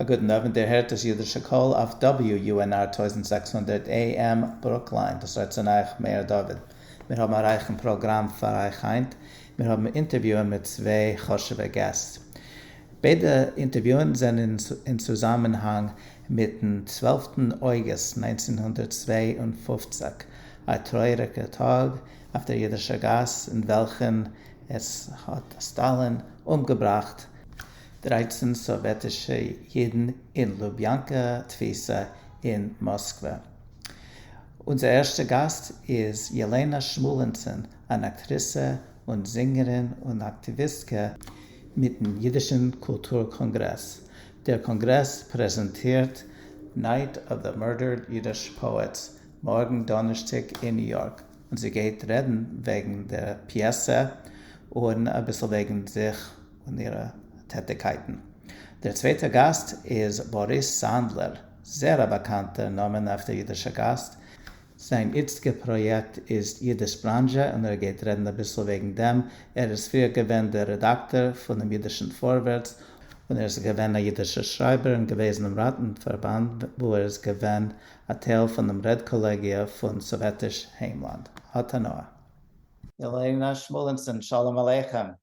א גוטן אווענט, איר הערט דאס אידישע קול אויף WUNR טויזנט זעקס הונדערט AM ברוקליין, דאס רעדט צון אייך מאיר דוד. מיר האבן א רייכן פראגראם פאר אייך היינט, מיר האבן אינטערוויוען מיט צוויי חשוב'ע געסט. ביידע אינטערוויוען זענען אין צוזאמענהאנג מיטן צוועלפטן אויגוסט נײַנצן הונדערט צוויי און פֿופֿציק, א טרויעריגער טאג אויף דער אידישער גאס אין וועלכן עס האט סטאלין אומגעבראכט, דרײַצן סאָוועטישע ייִדן אין לוביאַנקע תּפֿיסה אין מאָסקווע. אונדזער ערשטער גאַסט איז יעלענאַ שמואלענצען, אַן אַקטריסע און זינגערין און אַקטיוויסטקע. מיטן ייִדישן קולטור-קאָנגרעס. דער קאָנגרעס פּרעזענטירט Night of the Murdered Yiddish Poets מאָרגן דאָנערשטיק אין ניו-יאָרק, און זי גייט רעדן וועגן דער פּיעסע און אַ ביסל וועגן זיך. און אירע טעטיקייטן. דער צווייטער גאסט איז באריס סאנדלער, זעהר א באקאנטער נאמען אויף דער אידישער גאסט. זיין איצטיגער פראיעקט איז אידיש בראנזשע און ער גייט רעדן אביסל וועגן דעם. ער איז פריער געווען דער רעדאקטאר פונעם אידישן פארווערטס, און ער איז געווען א אידישער שרייבער אין געוועזענעם ראטן פארבאנד וואו ער איז געווען א טייל פונעם רעד קאלעגיע פון סאוועטיש היימלאנד. האט הנאה. ילנה שמואלינסון, שלום עליכם.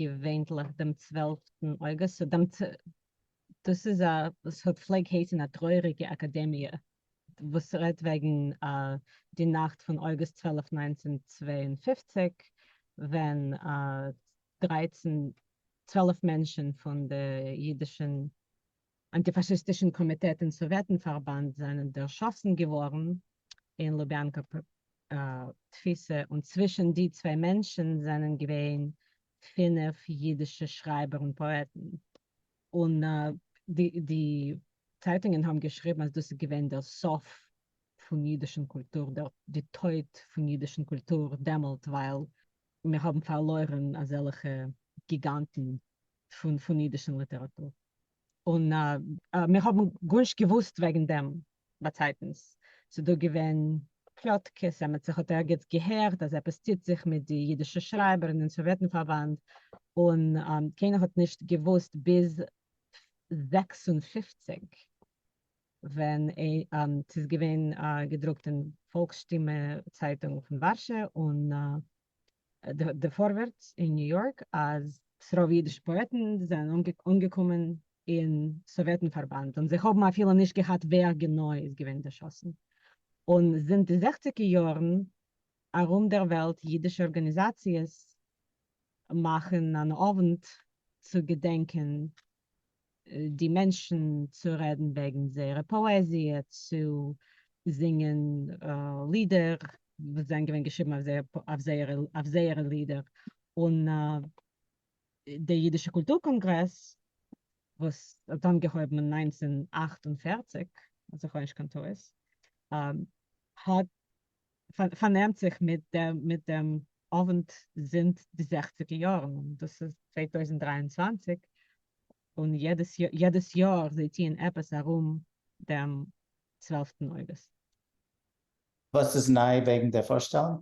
געווענליך דעם צוועלפטן אוגוסט, סאו דעם צ. דאס איז א, וואס האט פלעג הייסן א טרויעריגע אקאדעמיע, וואס רעדט וועגן די נאכט פון אוגוסט צוועלף ניינצן צוויי און פֿופֿציק, ווען דרייצן צוועלף מענטשן פון די אידישן אנטיפאשיסטישן קאמיטעט אין סאוועטן פארבאנד זענען דערשאסן געווארן אין לוביאנקא תפיסה און צווישן די צוויי מענטשן זענען געווען פינף אידישע שרייבער און פאעטן און די צייטונגען האבן געשריבן אז דאס איז געווען דער סוף פון אידישן קולטור די טויט פון אידישן קולטור דעמאלט ווייל מיר האבן פארלוירן אזעלכע גיגאנטן פון אידישן ליטעראטור, און מיר האבן גארנישט געוואוסט וועגן דעם באצייטנס, ס'איז דא געווען פלאטקעס, אמת זיך האט ערגעץ געהערט אז עפעס טוט זיך מיט די אידישע שרייבער און סאוועטן-פארבאנד, און קיינער האט נישט געוואוסט ביז זעקס און פֿופֿציק. ווען ס'איז געווען געדרוקט אין פאלקס-שטימע צייטונג פון ווארשע און די פארווערטס אין ניו יארק אז ס'רוב אידישע פאעטן זענען אנגעקומען אין סאוועטן פארבאנד און זיי האבן אפילו נישט געהאט ווער גענוי איז געווען דערשאסן. און זינט די זעכציגער יארן ארום דער וועלט אידישע ארגאניזאציעס מאכן אן אווענט צו געדענקען די מענטשן צו רעדן וועגן זייערע פאעזיע, צו זינגען לידער וואס זענען געווען געשריבן אויף זייערע לידער, און די אידישע קולטור קאנגרעס וואס האט אנגעהויבן אין נײַנצן אַכט און פֿערציק אז איך האב נישט קיין טעות, האט פארנעמט זיך מיט דעם מיט דעם אווענט זינט די זעכציגער יארן און דאס איז צוויי טויזנט דרײַ און צוואַנציק און יעדעס יעדעס יאר זיי טוען עפעס ארום דעם צוועלפטן אוגוסט. וואס איז ניי וועגן די פארשטעלונג?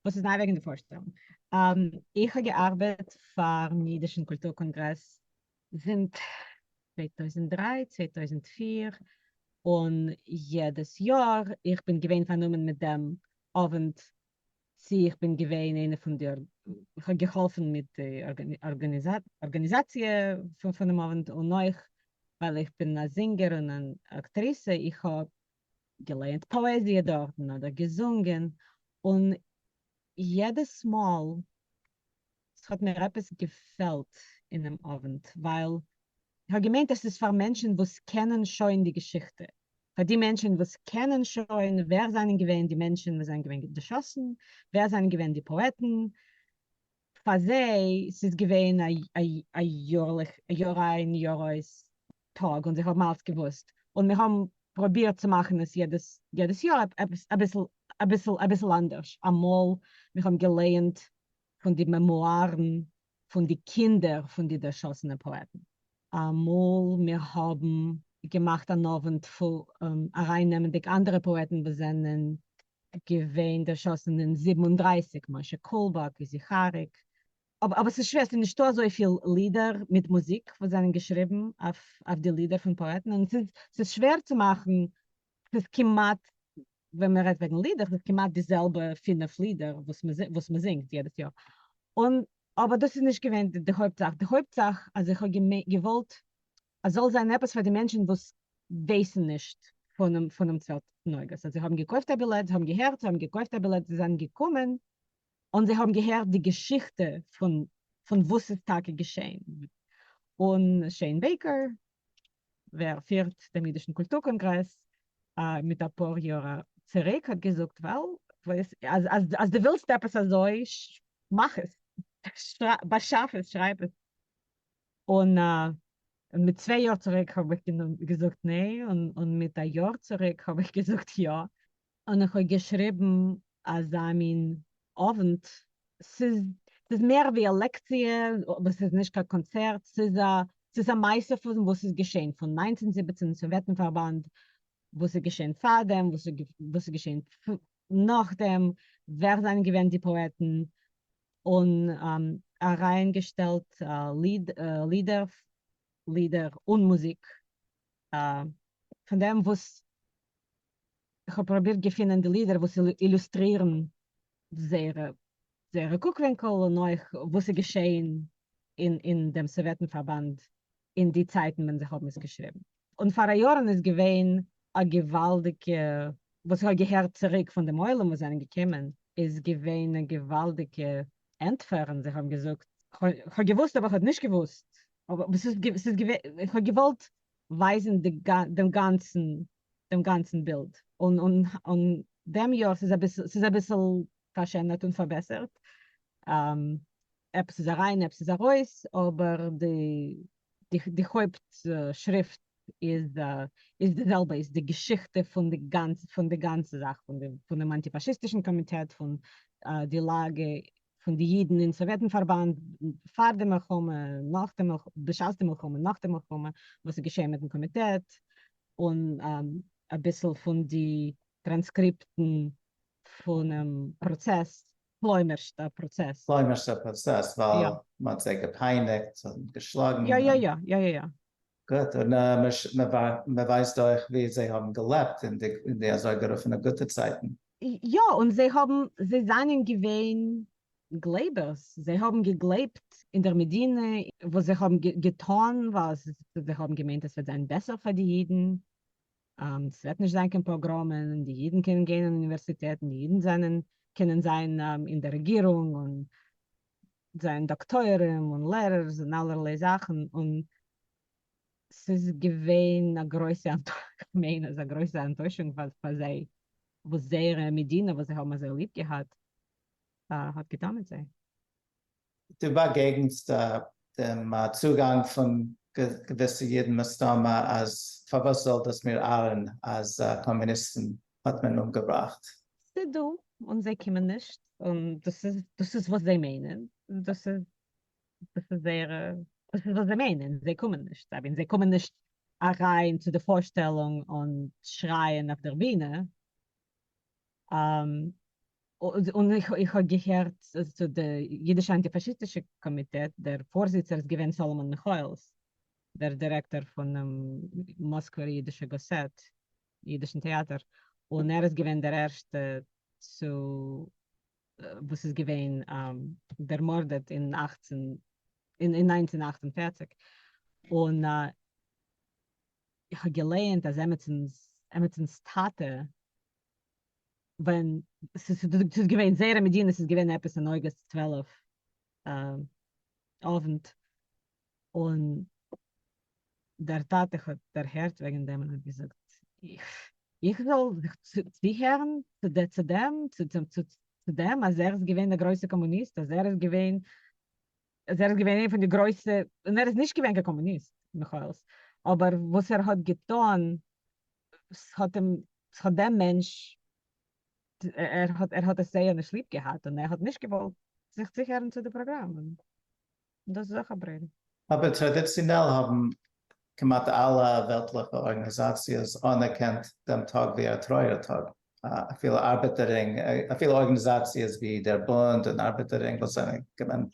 וואס איז ניי וועגן די פארשטעלונג? איך האב געארבעט פארן אידישן קולטור קאנגרעס זינט צוויי טויזנט דרײַ, צוויי טויזנט פֿיר, און יעדעס יאר איך בין געווען פארנומען מיט דעם אווענט, צו איך בין געווען איינע פון די, איך האב געהאלפן מיט די ארגאניזאציע פונעם אווענט, און אויך ווייל איך בין א זינגער און אן אקטריסע, איך האב געלייענט פאעזיע דארטן אדער געזונגען, און יעדעס מאל ס'האט מיר עפעס געפעלט אינעם אווענט, ווייל כ'האב געמיינט עס איז פאר מענטשן וואס קענען שוין די געשיכטע, פאר די מענטשן וואס קענען שוין ווער זענען געווען די מענטשן וואס זענען געווען געשאסן, ווער זענען געווען די פאעטן, פאר זיי ס'איז געווען א יאר איין יאר אויס טאג און זיי האבן אלץ געוואוסט און מיר האבן פרובירט צו מאכן עס יעדעס יאר אביסל אביסל אנדערש, אמאל מיר האבן געלייענט פון די מעמוארן פון די קינדער פון די דערשאסענע פאעטן, אמאל מיר האבן געמאכט אן אווענט ארייננעמענדיג אנדערע פאעטן וואס זענען געווען דערשאסן אין זיבן און דרײַסיק, משה קולבאק, איזי חאריק, אבער ס'איז שווער, ס'איז נישטא אזויפיל לידער מיט מוזיק וואס זענען געשריבן אויף די לידער פון פאעטן, און ס'איז שווער צו מאכן, ס'איז כמעט, ווען מען רעדט וועגן לידער, ס'איז כמעט די זעלבע פֿינף לידער וואס מען זינגט יעדעס יאר, און אבער דאס איז נישט געווען די הויפט זאך, די הויפט זאך אז איך האב געוואלט עס זאל זיין עפעס פאר די מענטשן וואס ווייסן נישט פונעם צוועלף נוגות, אז זיי האבן געקויפט א בילעט, זיי האבן געהערט, זיי האבן געקויפט א בילעט, זיי זענען געקומען, און זיי האבן געהערט די געשיכטע פון וואס ס'איז טאקע געשעהן, און שעין בעיקער ווער פירט דעם אידישן קולטור קאנגרעס מיט אפאר יאר צוריק האט געזאגט וועל אז דו ווילסט עפעס אזוי מאך עס, באשאף עס, שרייב עס. און מיט צוויי יאר צוריק האב איך געזאגט ניין, און מיט א יאר צוריק האב איך געזאגט יא, און איך האב געשריבן אזא מין אוונט, ס'איז מער ווי א לעקציע וואס איז נישט קיין קאנצערט, ס'איז א מעשה פון וואס איז געשען פון נײַנצן זיבעצן אין סאוועטן-פארבאנד, וואס איז געשען פארדעם, וואס איז געשען נאכדעם, ווער זענען געווען די פאעטן, און אריין געשטעלט לידער און מוזיק פון דעם וואס איך האב פראבירט געפינען די לידער וואס אילוסטרירן זייער קוק ווינקל און אויך וואס איז געשעהן אין דעם סאוועטן פארבאנד אין די צייטן ווען זיי האבן עס געשריבן. און פאר א יארן איז געווען א געוואלדיגע, וואס איך האב געהערט צוריק פון דעם עולם וואס זענען געקומען, איז געווען א געוואלדיגע ענטפער, און זיי האבן געזאגט, איך האב געוואוסט אבער איך האב נישט געוואוסט, אבער ס'איז געווען, איך האב געוואלט ווייזן דעם גאנצן דעם גאנצן בילד, און דעם יאר ס'איז אביסל ס'איז אביסל פארשענערט און פארבעסערט, עפעס איז אריין עפעס איז ארויס, אבער די די הויפט שריפט איז איז די זעלבע איז די געשיכטע פון די גאנצע פון די גאנצע זאך פון די פון דעם אנטי פאשיסטישן קאמיטעט פון די לאגע פון די אידן אין סאוועטן פארבאנד פאר די מלחמה נאך די מלחמה בשעת די מלחמה נאך די מלחמה וואס איז געשעהן מיטן קאמיטעט און אביסל פון די טראנסקריפטן פונעם פראצעס, כלומרשט א פראצעס. כלומרשט א פראצעס, ווייל מ'האט זיי געפייניגט און געשלאגן. יא יא יא יא יא יא. גוט, און מ'ווייסט אויך ווי זיי האבן געלעבט אין די אזוי גערופענע גוטע צייטן. יא, און זיי האבן, זיי זענען געווען גלייבערס, זיי האבן געגלייבט אין דער מדינה, וואס זיי האבן געטאן ווייל זיי האבן געמיינט עס וועט זיין בעסער פאר די אידן. עס וועט נישט זיין קיין פאגראמען, די אידן קענען גיין אין אוניווערסיטעטן, די אידן זענען קענען זיין אין דער רעגירונג און זיין דאקטוירים און לערערס און אלערליי זאכן, און ס'איז געווען א גרויסע כ'מיין אז א גרויסע אנטוישונג פאר זיי וואס זייערע מדינה וואס זיי האבן אזוי ליב געהאט האט געטאן מיט זיי. דו באגעגענסט דעם צוגאנג פון געוויסע אידן מסתמא אז פארוואס זאל דאס מיר ארען אז קאמוניסטן האט מען אומגעבראכט. ס'דא און זיי קומען נישט און דאס איז דאס איז וואס זיי מיינען דאס איז דאס איז זייערע דאס איז וואס זיי מיינען זיי קומען נישט אבי זיי קומען נישט אריין צו די פארשטעלונג און שרייען אויף דער בינע. און איך האב געהערט צו די אידישע אנטי פאשיסטישע קאמיטעט, דער פארזיצער איז געווען סאלאמאן מיכאעלס, דער דירעקטאר פונעם מאסקווער אידישע גאסעט, אידישן טעאטער, און ער איז געווען דער ערשטע צו וואס איז געווען דערמארדעט אין אַכצן אין אין נײַנצן אַכט און פֿערציק, און איך האב געלייענט אז עמיצנס עמיצנס טאטע ווען ס'איז געווען זערא מדינה ס'איז געווען עפעס אין אוגוסט צוועלף אוונט און דער טאטע האט דערהערט וועגן דעם און האט געזאגט איך זאל זיך צוהערן צו דעם צו דעם אז ער איז געווען א גרויסע קאמוניסט אז ער איז געווען אז ער איז געווען איינע פון די גרויסע, און ער איז נישט געווען קיין קאמוניסט מיכאל'ס, אבער וואס ער האט געטון ס'האט אים, ס'האט דעם מענטש, ער האט, ער האט עס זייער נישט ליב געהאט און ער האט נישט געוואלט זיך צוהערן צו די פראגראם, און דאס איז אויך א ברען. אבער טראדיציאנעל האבן כמעט אלע וועלטליכע ארגאניזאציעס אנערקענט דעם טאג ווי א טרויער טאג. אפילו ארבעטעררינג, אפילו ארגענעזאציעס ווי דער בונד און ארבעטעררינג וואס זענען געווען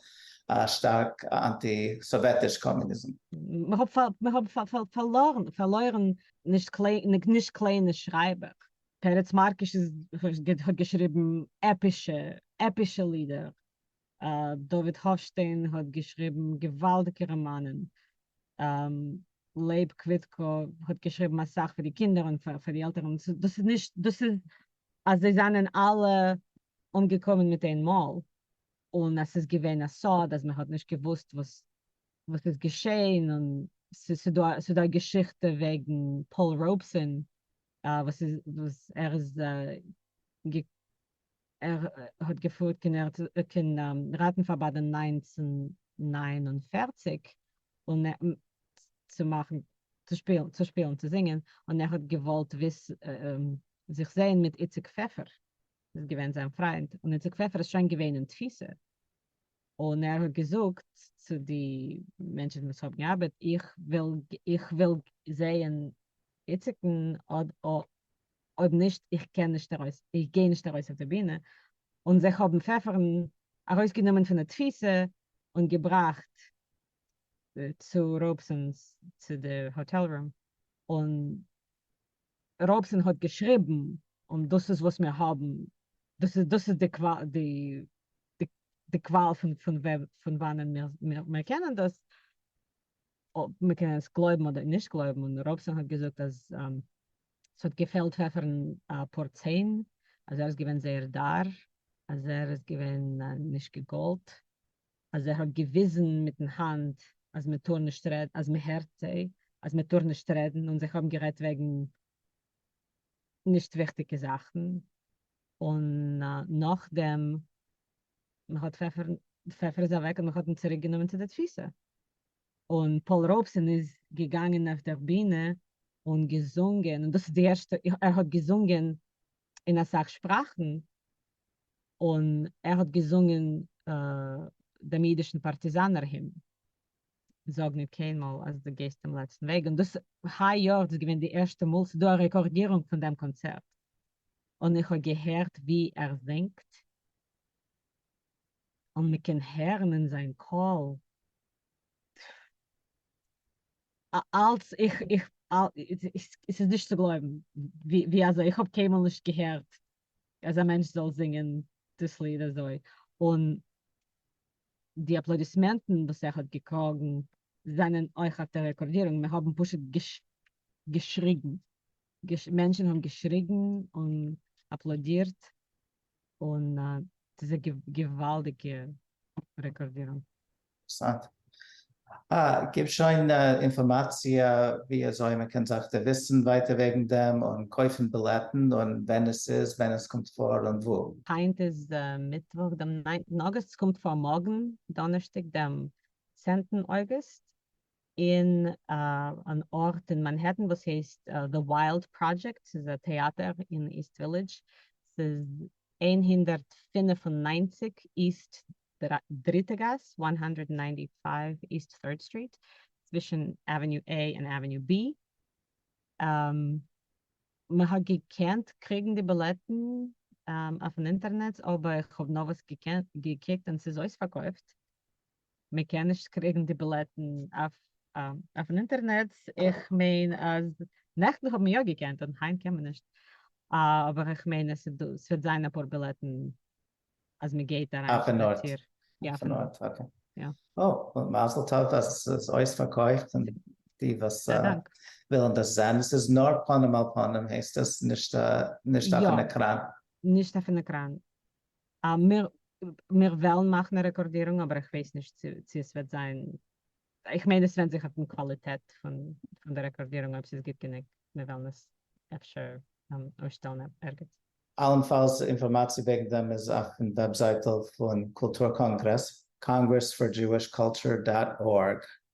שטארק אנטי סאוועטיש קאמוניזם. מיר האבן פארלוירן נישט קליינע שרייבער. פרץ מארקיש האט געשריבן עפישע לידער. דוד האפשטיין האט געשריבן געוואלדיגע ראמאנען, לייב קוויטקא האט געשריבן אסאך פאר די קינדער און פאר די עלטערן, דאס איז נישט דאס איז אז זיי זענען אלע אומגעקומען מיט איין מאל און אז ס'איז געווען א סוד אז מען האט נישט געוואוסט וואס וואס איז געשעהן און ס'דא ס'דא א געשיכטע וועגן פאול ראובסאן וואס איז וואס ער איז ער האט געפרואווט קען ראטן פאר ביי די נײַנצן נײַן און פֿערציק און צו מאכן צו שפילן צו שפילן צו זינגען און ער האט געוואלט זיך זעהן מיט איציק פעפער איז געווען זיין פריינט און איציק פעפער איז שוין געווען אין תפיסה. און ער האט געזאגט צו די מענטשן וואס האבן געארבעט, איך וויל זעהן איציק'ן, אויב נישט, איך גיי נישט ארויס אויף די בינע, און זיך האבן פעפערן ארויסגענומען פון די תפיסה און געבראכט צו ראובסאן'ס צו די האטעל רום, און ראבסאן האט געשריבן, און דאס איז וואס מיר האבן, דאס איז דאס איז די די קוואל פון וואנען מיר קענען דאס, אויב מען קען עס גלויבן אדער נישט גלויבן, און ראבסאן האט געזאגט אז ס'האט געפעלט פעפערן אפאר ציין, אז ער איז געווען זייער דאר, אז ער איז געווען נישט געגאלט, אז ער האט געוויזן מיטן האנט אז מען טאר נישט רעדן, אז מען הערט זיי, אז מען טאר נישט רעדן, און זיי האבן גערעדט וועגן נישט וויכטיגע זאכן, און נאכדעם מען האט פעפער, די פעפער איז אוועק און מען האט אים צוריק גענומען צו די תפיסה, און פאול ראובסאן איז געגאנגען אויף דער בינע און געזונגען, און דאס איז די ערשטע, ער האט געזונגען אין אסאך שפראכן, און ער האט געזונגען דעם אידישן פארטיזאנער הימן, זאג ניט קיינמאל אז דו גייסט דעם לעצטן וועג, און דאס היי יאר איז געווען די ערשטע מאל ס'איז דא א רעקארדירונג פון דעם קאנצערט, און איך האב געהערט ווי ער זינגט, און מ'קען הערן אין זיין קול אלץ איך איך עס איז נישט צו גלויבן ווי אזוי איך האב קיינמאל נישט געהערט אז א מענטש זאל זינגען דאס ליד אזוי און די אפלאדיסמענטן וואס ער האט געקראגן זענען אויך אויף די רעקארדירונג מען האבן פשוט געשריגן מענטשן האבן געשריגן און אפלאדירט און ס'איז א געוואלדיגע רעקארדירונג. אינטערעסאנט. אה, גיב שוין אינפארמאציע ווי אזוי מען קען זיך דערוויסן ווייטער וועגן דעם, און קויפן בילעטן, און ווען עס איז, ווען עס קומט פאר, און וואו. היינט איז מיטוואך דעם ניינטן אגוסט, ס'קומט פאר מארגן דאנערשטאג דעם צענטן אוגוסט, אין אן ארט אין מאנהעטן וואס הייסט די וויילד פראדזשעקט, ס'איז א טעאטער אין איסט ווילידזש, ס'איז איין הונדערט פֿינף און נײַנציק איסט דריטע גאס, איין הונדערט ניינטי פייוו איסט ט'ירד סטריט, צווישן עוועניו עי און עוועניו בי, מ'האט געקענט קריגן די בילעטן אויפן אינטערנעץ אבער איך האב נארוואס געקוקט און ס'איז אויספארקויפט, מען קען נישט קריגן די בילעטן אויפן אינטערנעט, איך מיין אז נעכטן האט מען יא געקענט און היינט קען מען נישט, אבער איך מיין עס וועט זיין אפאר בילעטן אז מען גייט אריין שפאציר. אויפן ארט, אקעי. אוי, מזל טוב אז עס איז אויספארקויפט און די וואס ווילן דאס זען, עס איז נאר פנים אל פנים הייסט עס, נישט אויפן עקראן? נישט אויפן עקראן. מיר וועלן מאכן א רעקארדירונג אבער איך ווייס נישט צו עס וועט זיין, איך מיין עס ווענד זיך אויפן קוואליטעט פון די רעקארדירונג אויב ס'איז גוט גענוג מיר וועלן עס אפשר אויסשטעלן ערגעץ. אלנפאלס, אינפארמאציע וועגן דעם איז אויפן וועבזייטל פון קולטור קאנגרעס, Congress for Jewish Culture דאט ארג.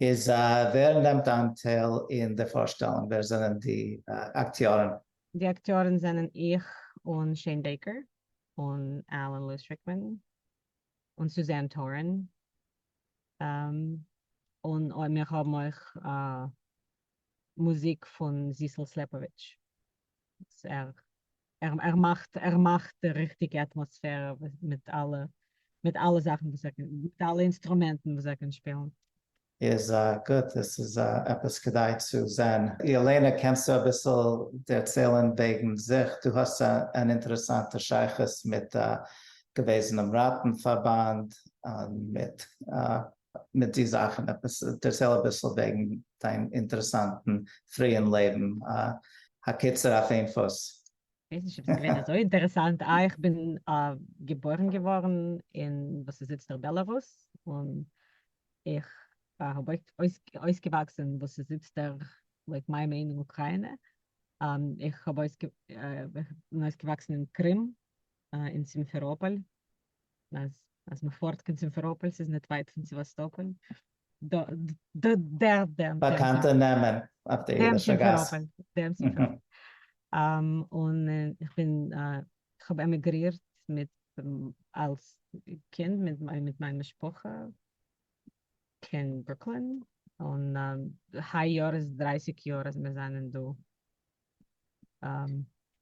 איז ווער נעמט אנטייל אין די פארשטעלונג? ווער זענען די אקטיארן? די אקטיארן זענען איך און שעין בעיקער און אלען לואיס ריקמאן און סוזען טארען און מיר האבן אויך מוזיק פון זיסל סלעפאוויטש וואס ער ער מאכט ער מאכט די ריכטיגע אטמאספערע מיט אלע מיט אלע זאכן וואס ער קען מיט אלע אינסטרומענטן וואס ער קען שפילן. איז גוט, עס איז עפעס כדאי צו זען. ילנה קענסטו אביסל דערציילן וועגן זיך? דו האסט אן אינטערעסאנטע שייכות מיט א געוועזענעם ראטן פארבאנד און מיט מיט די זאכן עפעס דערצייל אביסל וועגן דיין אינטערעסאנטן פריען לעבן הקיצור אויף איין פוס. כ'ווייס נישט אויב ס'איז געווען אזוי אינטערעסאנט, אה איך בין געבוירן געווארן אין וואס איז איצטער בעלארוס, און איך האב אויסגעוואקסן אין וואס איז איצטער לויט מיין מיינונג אוקריינע, איך האב אויסגעוואקסן אין קרים אין סימפעראפאל, אז אז מ'פארט קיין סימפעראפאל ס'איז ניט ווייט פון סעוואסטאפאל, דא ד דער דעם באקאנטע נעמען אויף די אידישע גאס. דעם סימפעראפאל. און איך בין כ'האב עמיגרירט מיט אלס קינד מיט מיט מיין משפחה קיין ברוקלין, און היי יאר איז דרײַסיק יאר אז מיר זענען דא.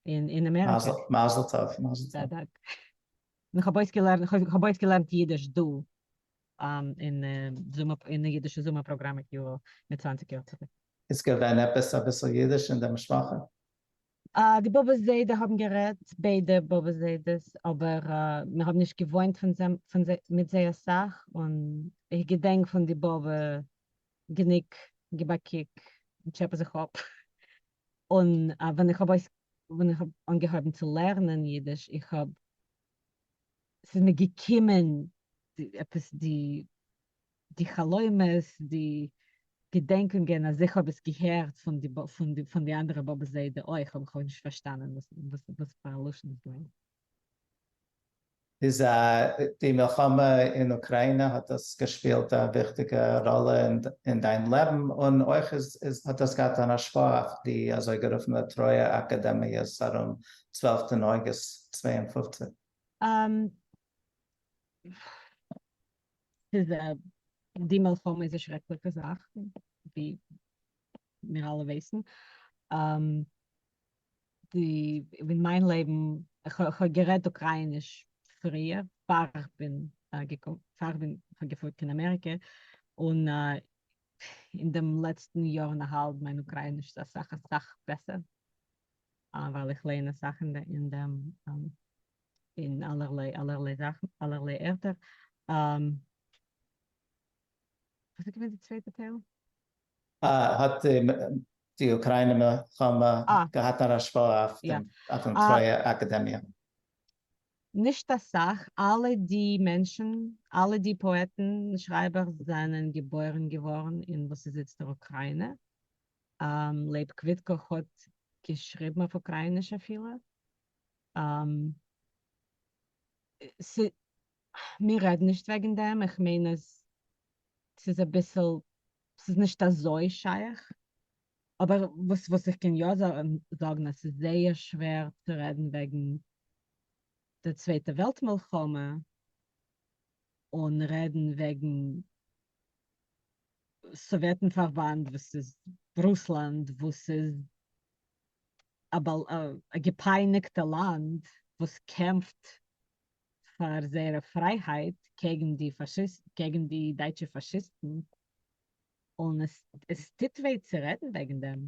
אין אמעריקע. מזל טוב, מזל טוב. דאנק. איך האב אויסגעלערנט, איך האב אויסגעלערנט אידיש דא אין די אידישע זומער פראגראם מיט יואל מיט צוואַנציק יאר צוריק. איז געווען עפעס אביסל אידיש אין די משפחה? די באבע זיידע האבן גערעדט, ביידע באבע זיידעס, אבער מיר האבן נישט געוואוינט מיט זיי אסאך, און איך געדענק פון די באבע גענוג געבאקוק און טשעפע זיך אפ, און ווען איך האב ווען איך האב אנגעהויבן צו לערנען אידיש איך האב ס'איז מיר געקומען עפעס די די חלומות די געדענקונגען אז איך האב עס געהערט פון די פון די פון די אנדערע באבע זיידע אויך אבער איך האב נישט פארשטאנען וואס וואס פאר א לשון עס געווען. איז די מלחמה אין אוקריינע האט דאס געשפילט א וויכטיגע ראלע אין דיין לעבן? און אויך איז האט דאס געהאט אן השפעה אויף די אזויגערופענע טרויער אקעדעמיעס ארום צוועלפטן אוגוסט צוויי און פֿופֿציק? ס'איז א, די מלחמה איז א שרעקליכע זאך ווי מיר אלע ווייסן. די אין מיין לעבן איך האב גערעדט אוקרייניש פריער פאר איך בין אהערגעקומען פאר איך בין געפלויגן קיין אמעריקע און אין דעם לעצטן יאר און א האלב מיין אוקרייניש איז אסאך אסאך בעסער ווייל איך לערן אסאך אין דעם אין אלערליי אלערליי זאכן אלערליי ערטער. וואס איז געווען די צווייטע טייל? אה, האט די אוקריינע מלחמה געהאט אן השפעה אויפן טרויער אקעדעמיע? נישט אסאך, אלע די מענטשן, אלע די פאעטן, שרייבער, זענען געבוירן געווארן אין וואס איז איצט דער אוקריינע. לייב קוויטקא האט געשריבן אויף אוקרייניש אפילו. מיר רעדן נישט וועגן דעם, איך מיין אז ס'איז אביסל, ס'איז נישט אזוי שייך, אבער וואס וואס איך קען יא זאגן אז ס'איז זייער שווער צו רעדן וועגן די צווייטע וועלט מלחמה אן רעדן וועגן סאוועטן פארבאנד וואס איז רוסלאנד וואס איז א געפייניגטע לאנד וואס קעמפט פאר זייערע פרייהייט קעגן די פאשיסטן קעגן די דייטשע פאשיסטן און עס עס טוט וויי צו רעדן וועגן דעם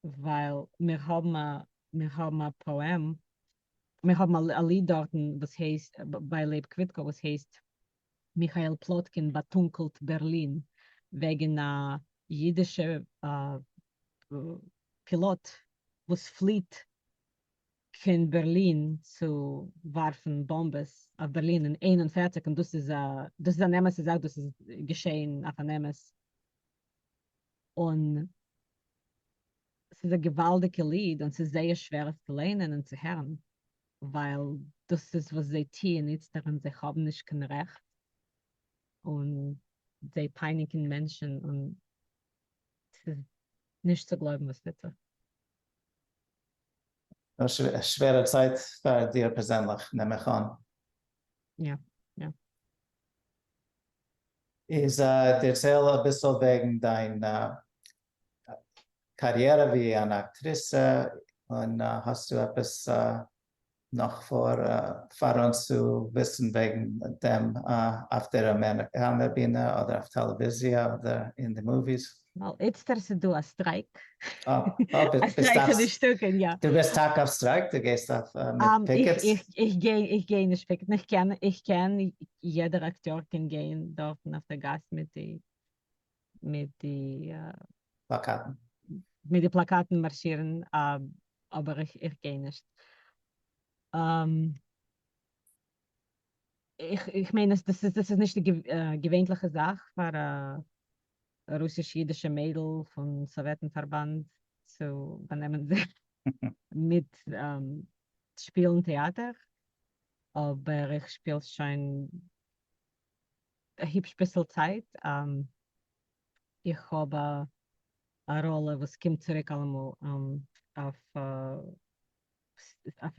ווייל מיר האבן א מיר האבן א פאעם מיר האבן א ליד דארטן וואס הייסט ביי לב קוויטקא וואס הייסט מיכאל פלאטקין באטונקלט בערלין וועגן א אידישע פילאט וואס פליעט קיין בערלין צו ווארפן באמבעס אויף בערלין אין איין און פֿערציק און דאס איז דאס איז אן אמת'ע זאך דאס איז געשעהן אויף אן אמת. און ס'איז א געוואלדיגע ליד און ס'איז זייער שווער עס צו ליינען און צו הערן ווייל דאס איז וואס זיי טוען איצטערט און זיי האבן נישט קיין רעכט און זיי פייניגן מענטשן און ס'איז נישט צו גלויבן וואס טוט זיך. א שווערע צייט פאר דיר פערזענליך נעם איך אן. יא יא. איז דערצייל אביסל וועגן דיין קאריערע ווי אן אקטריסע, און האסטו עפעס נאך פאר פאר אונז צו וויסן וועגן דעם אויף דער אמעריקאנער בינע אדער אויף טעלעוויזיע אדער אין די מאוויס? ווייל איצטער איז דא א סטרייק. דו גייסט טאקע אויף סטרייק? דו גייסט אויף פיקעטס? איך גיי נישט פיקעטן, איך קען, יעדער אקטיאר קען גיין דארטן אויף די גאס מיט די מיט די פלאקאטן. מיט די פלאקאטן מארשירן, אבער איך גיי נישט. איך מיין אז דאס איז נישט די געווענליכע זאך פאר א רוסיש אידישע מיידל פון סאוועטן פארבאנד צו באנעמען זיך מיט שפילן טעאטער, אבער איך שפיל שוין א היפש ביסל צייט, איך האב א ראלע וואס קומט צוריק אלעמאל אויף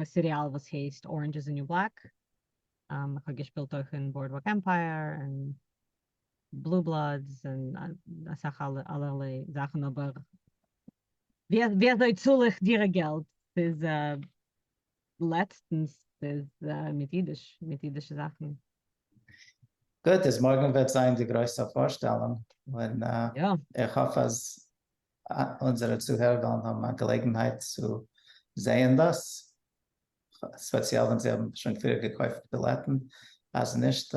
א סיריאל וואס הייסט Orange is the new black, איך האב געשפילט אויך אין Boardwalk Empire און בלו בלאדס און אסאך אלערליי זאכן אבער ווי אזוי צאל איך דירה געלט ס'איז לעצטנס ס'איז מיט אידיש מיט אידישע זאכן. גוט איז מארגן וועט זיין די גרויסע פארשטעלונג און איך האף אז אונזערע צוהערער וועלן האבן א געלעגנהייט צו זעהן דאס ספעציעל ווען זיי האבן שוין פריער געקויפט בילעטן אז נישט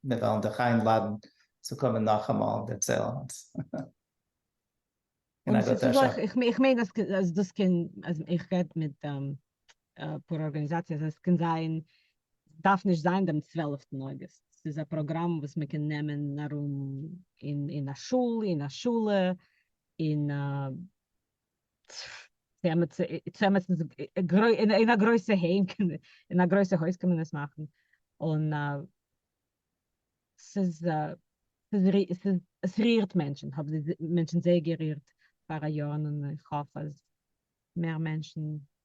מיר וועלן דיך איינלאדן צו קומען נאכאמאל און דערציילן אונז אין א גוטער שעה. איך מיין אז דאס קען, איך רעד מיט אפאר ארגאניזאציעס, עס קען זיין, דארף נישט זיין דעם צוועלעפטן אוגוסט, ס'איז א פראגראם וואס מען קען נעמען ארום אין א שול, אין א שולע, אין א צעמעטס איז אין א גרויסע היים אין א גרויסע הויז קען מען עס מאכן און ס'איז עס רירט מענטשן האבן די מענטשן זייער גערירט פאר א יאר און איך האף אז מער מענטשן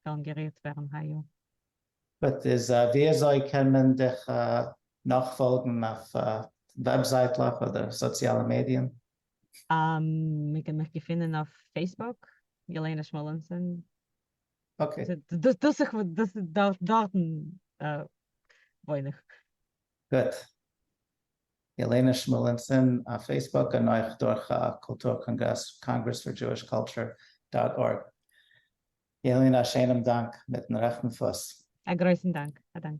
וועלן גערירט ווערן היי יאר. גוט איז ווי אזוי קען מען דיך נאכפאלגן אויף וועבזייטלעך אדער סאציאלע מידיען? מען קען מיך געפינען אויף פעיסבוק, ילנה שמואלענסאן. אקעי. דאס דאס איך וואלט דאס דארט דארטן וואוין איך. גוט. ילנה שמואלענסאן אויף פעיסבוק און אויך דורך א קולטור קאנגרעס, Congress for Jewish Culture דאט ארג. ילנה א שיינעם דאנק מיטן רעכטן פוס. א גרויסן דאנק. א דאנק.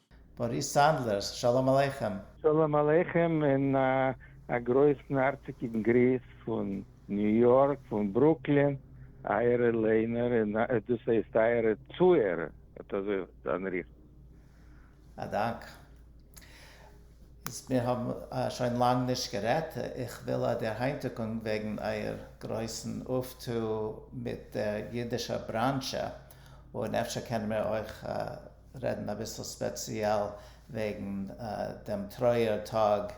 באריס סאנדלערס, שלום עליכם! שלום עליכם און א גרויסן הארציגן גריס פון ניו יארק פון ברוקלין, אייערע ליינער און דאס הייסט אייערע צוהערער אט אזוי זיין ריכטיג. א דאנק. איז מיר האבן שוין לאנג נישט גערעדט, איך וויל א דערהיינטיקונג וועגן אייער גרויסן אויפטו מיט דער אידישער בראנזשע, און אפשר קענען מיר אויך. רעדן אביסל ספעציעל וועגן דעם טרויער טאג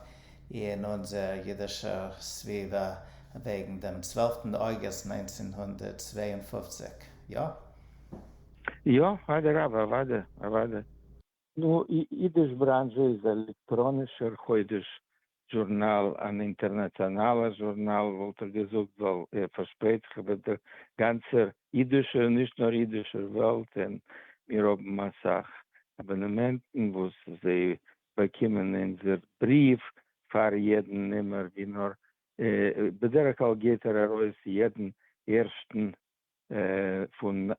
אין אונזער אידישער סביבה וועגן דעם צוועלפטן אוגוסט נײַנצן הונדערט צוויי און פֿופֿציק, יא? יא, אדרבה, אוודאי, אוודאי. נו, אידיש בראנזשע איז עלעקטראנישער חודש זשורנאל, אן אינטערנאציאנאלער זשורנאל וואלט איך געזאגט, ווייל איר פארשפרייט זיך איבער דער גאנצער אידישער און נישט נאר אידישער וועלט, און מיר האבן אסאך אבאנעמענטן וואס זיי באקומען אונזער בריוו פאר יעדן נומער, ווי נאר בדרך כלל געבט ער ארויס יעדן ערשטן פון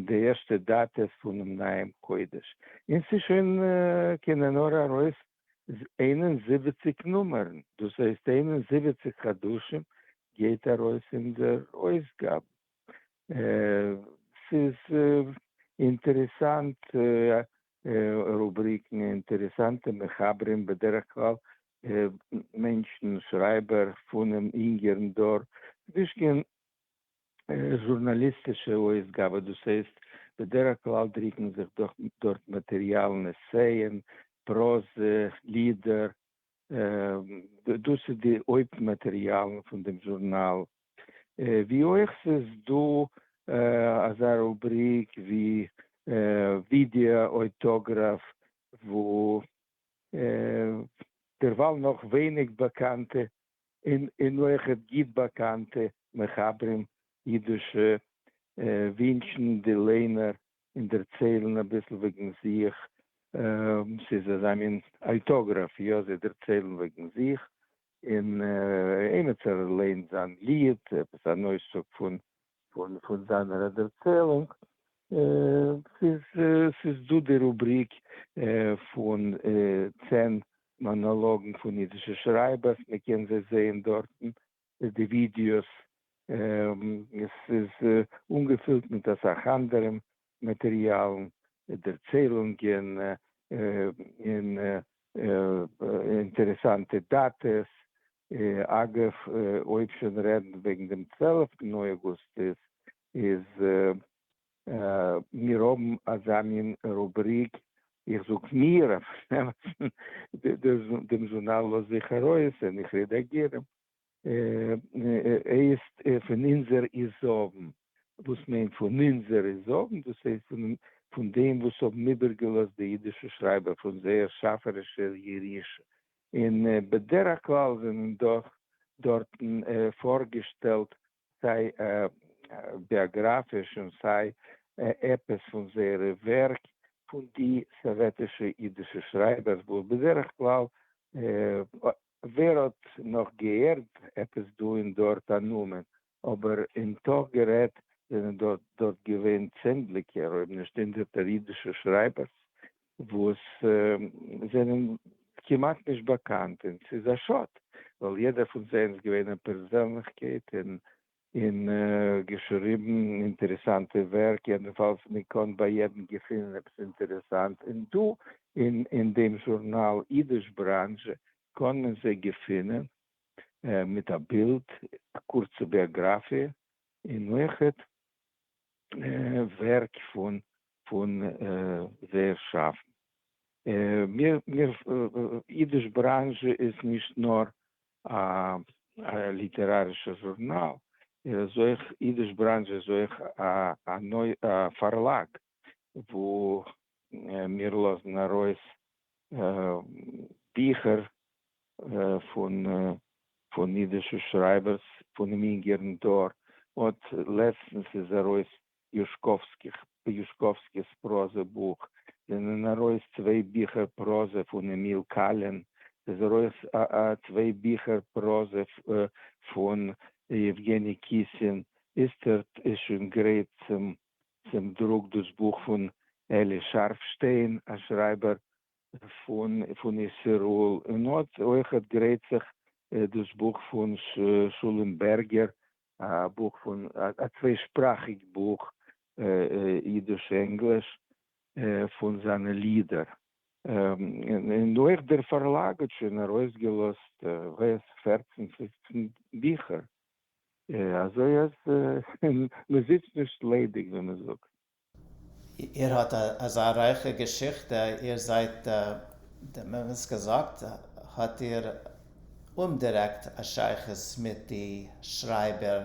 די ערשטע דאטע פונעם נייעם חודש, און ס'איז שוין קענען נאר ארויס איין און זיבעציק נומערן, דאס הייסט איין און זיבעציק חדשים גייט ארויס אין דער אויסגאבע. ס'איז אינטערעסאנט רובריקן, אינטערעסאנטע מחברים, בדרך כלל מענטשן, שרייבער פונעם אינגערן דור, נישט קיין זשורנאליסטישע אויסגאבע, דאס הייסט, בדרך כלל דרוקן זיך דאך דארט מאטעריאלן, עסייען, פראזע, לידער, דאס איז די הויפט מאטעריאלן פון דעם זשורנאל, ווי אויך ס'איז דא אזא רובריק ווי ווידעא אויטאגראף, וואו דערווייל נאך ווייניג באקאנטע און און אויך האט גוט באקאנטע מחברים אידישע ווינטשן די ליינער און דערציילן אביסל וועגן זיך, ס'איז אזא מין אויטאגראפי יא זיי דערציילן וועגן זיך, און עימיצער לערנט זיין ליד, עפעס אן אויסצוג פון פון זיינער ערדערציילונג, ס'איז דא די רובריק פון צען מאנאלאגן פון אידישע שרייבערס, מ'קען זיי זעהן דארטן, די ווידיאוס, ס'איז אנגעפילט מיט אסאך אנדערע מאטעריאלן, דערציילונגען, און אינטערעסאנטע דאטעס. אגב, אויב שוין רעדן וועגן דעם צוועלפטן אויגוסט איז מיר האבן אזא מין רובריק, איך זאג מיר, אויף דעם זונאל לאז איך ארויס און איך רעדאגירן. הייסט פון אונזער איז זאגן, וואס מיינט פון אונזער איז זאגן? דאס הייסט פון פון דעם וואס האבן איבערגעלאזט די אידישע שרייבער פון זייער שאפערישער ירושה, און בדרך כלל זענען דאך דארטן פארגעשטעלט סיי ביאגראפיש און סיי עפעס פון זייערע ווערק פון די סאוועטישע אידישע שרייבערס וואס בדרך כלל ווער האט נאך געהערט עפעס דא און דארט א נאמען, אבער אין תוך גערעדט זענען דא דארט געווען צענדליגער אויב נישט הונדערטער אידישע שרייבערס וואס זענען כמעט נישט באקאנט און ס'איז א שאד ווייל יעדער פון זיי איז געווען א פערזענליכקייט און און געשריבן אינטערעסאנטע ווערק, יעדנפאלס מען קען ביי יעדן געפינען עפעס אינטערעסאנט, און דא אין דעם זשורנאל אידיש בראנזש קען מען זיי געפינען מיט א בילד, א קורצע ביאגראפיע, און אויכעט ווערק פון זייער שאפן. אידיש בראנזש איז נישט נאר א ליטערארישע זשורנאל, ער איז אויך, אידיש בראנזש איז אויך א פארלאג וואו מיר לאזן ארויס ביכער פון אידישע שרייבערס פונעם אינגערן דור, אט לעצטנס איז ארויס יושקאָווסקיך, פ. יושקאָווסקיס פּראָזע-בוך, זענען אַרױס צװײ ביכער פּראָזע פֿון עמיל קאַלין, ס'איז אַרױס צװײ ביכער פּראָזע פֿון יעװגעני קיסין, איצטערט איז שױן גרײט צום דרוק דאָס בוך פֿון אלי שאַרפֿשטײן, אַ שרײַבער פֿון איסרול, און אָט אױך גרײט זיך דאָס בוך פֿון שלום בערגער, א בוך פון א צוויי שפראכיג בוך אידיש ענגליש פון זיינע לידער און אויך דער פארלאג האט שוין ארויס געלאזט וועס פערצן פופצן ביכער אזוי אז מען זיצט נישט ליידיג ווי מען זאגט. איר האט אזא רייכע געשיכטע, איר זייט די מומענטס געזאגט, האט איר אומדירעקט א שייכות מיט די שרייבער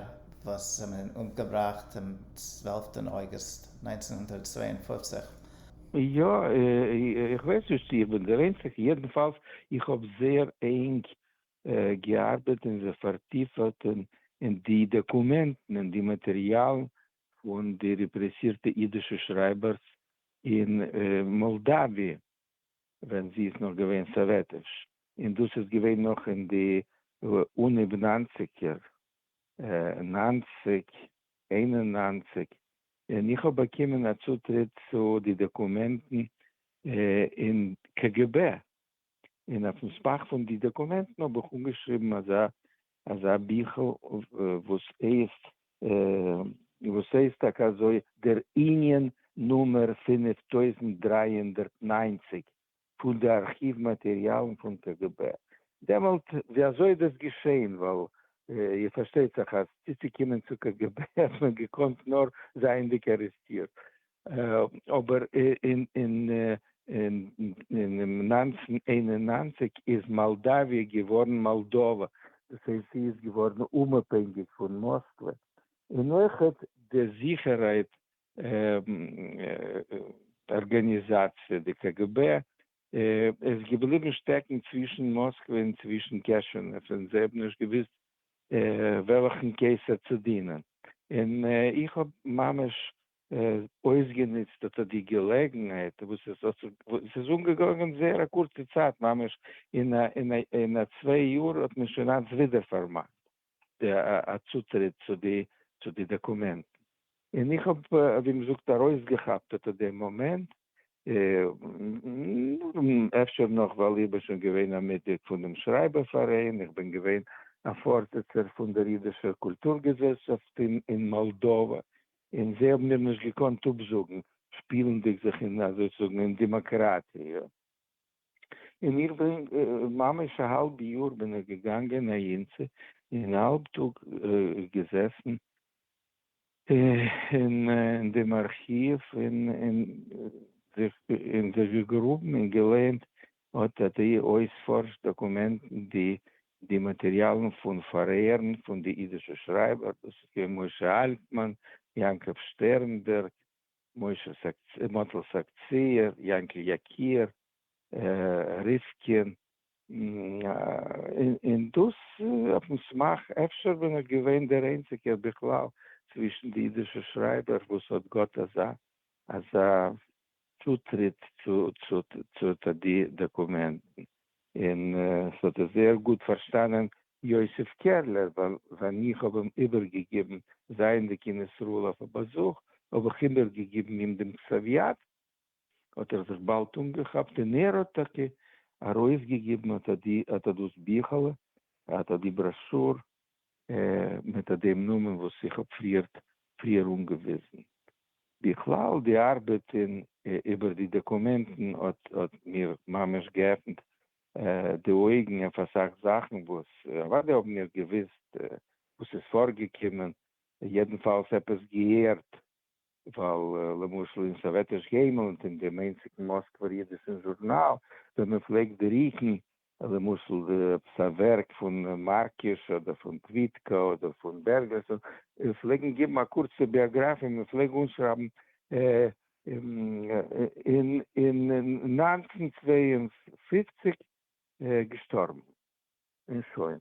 וואס זענען אומגעבראכט אום צוועלפטען אוגוסט נײַנצן הונדערט צוויי און פֿופֿציק? יא, איך ווייס נישט צו איך בין דער איינציגער, יעדנפאלס איך האב זייער ענג געארבעט און זיך פארטיפעט אין די דאקומענטן און די מאטעריאלן פון די רעפרעסירטע אידישע שרייבערס אין מאלדאוויע ווען זי איז נאך געווען סאוועטיש, און דאס איז געווען נאך אין די אנהייב ניינציגער, נײַנציק, איין און נײַנציק, און איך האב באקומען א צוטריט צו די דאקומענטן אין קגב. און אויפן סמך פון די דאקומענטן האב איך אנגעשריבן אזא אזא ביכל וואס הייסט וואס הייסט טאקע אזוי דער ענין נומער פֿינף טויזנט דרײַ הונדערט נײַנציק פון די ארכיוו מאטעריאלן פון קג ב דעמאלט ווי אזוי איז דאס געשעהן ווייל איר פארשטייט זיך אז צוצוקומען צו קג ב האט מען געקאנט נאר זייענדיג ארעסטירט אבער אין נײַנצן איין און נײַנציק איז מאלדאוויע געווארן מאלדאווע, דאס הייסט זי איז געווארן אומאפהענגיק פון מאסקווע, און אויך די זיכערהייט ארגאניזאציע די קגב איז געבליבן שטעקן צווישן מאסקווע און צווישן קעשענעוו, און זיי האבן נישט געוואוסט וועלכן קיסר צו דינען, און איך האב ממש אויסגענוצט האט ער די געלעגנהייט וואס עס האט זיך וואס איז אנגעגאנגען זייער א קורצע צייט ממש אין א אין א אין א צוויי יאר האט מען שוין אלץ ווידער פארמאכט די א צוטריט צו די צו די דאקומענטן און איך האב ווי מען זאגט ארויסגעכאפט אט די מאמענט אפשר נאך ווייל איך בין שוין געווען א מיטגליד פון דעם שרייבער פאראיין איך בין געווען א פארזיצער פון דער אידישער קולטור געזעלשאפט אין אין מאלדאווע און זיי האבן מיר נישט געקאנט אפזאגן, שפילנדיג זיך אין אזוי צו זאגן אין דעמאקראטיע, און איך בין ממש א האלב יאר בין איך געגאנגען אהין צו און האלב טאג געזעסן אין דעם ארכיוו און זיך געגראבן און געלערנט האט די אויספארש דאקומענטן די די מאטעריאלן פון פארהערן פון די אידישע שרייבער, דאס איז געווען משה אלטמאן, יעקב שטערנבערג, משה סאקצער, מאטל סאקצער, יענקל יקיר, ריסקין, און דאס אויפן סמך אפשר ווען ער איז געווען דער איינציגער בכלל צווישן די אידישע שרייבער וואס האט געהאט אזא אזא צוטריט צו די דאקומענטן, און ס'האט עס זייער גוט פארשטאנען יוסף קערלער, ווייל ווען איך האב אים איבערגעגעבן, זייענדיג אין ישראל אויף א באזוך, האב איך איבערגעגעבן אים דעם קסעוויאט, האט ער זיך באלד אנגעכאפט, און ער האט טאקע ארויסגעגעבן אט אט דאס ביכעלע, אט אט די בראשור, מיט דעם נאמען וואס איך האב פריער אנגעוויזן. בכלל די ארבעט איבער די דאקומענטן האט מיר ממש געעפנט די אויגן אויף אסאך זאכן וואס אוודאי האבן מיר געוויסט וואס איז פארגעקומען, יעדנפאלס עפעס געהערט. ווייל למשל אין סאוועטיש געימלענד און דעם איינציגן מאסקווער אידישן זשורנאל ווען מען פלעגט דריקן למשל עפעס א ווערק פון מארקיש אדער פון קוויטקא אדער פון בערגערסאן און פלעגן געבן א קורצע ביאגראפיע מען פלעג אנשרייבן אין נײַנצן צוויי און פֿופֿציק געשטארבן. און שוין.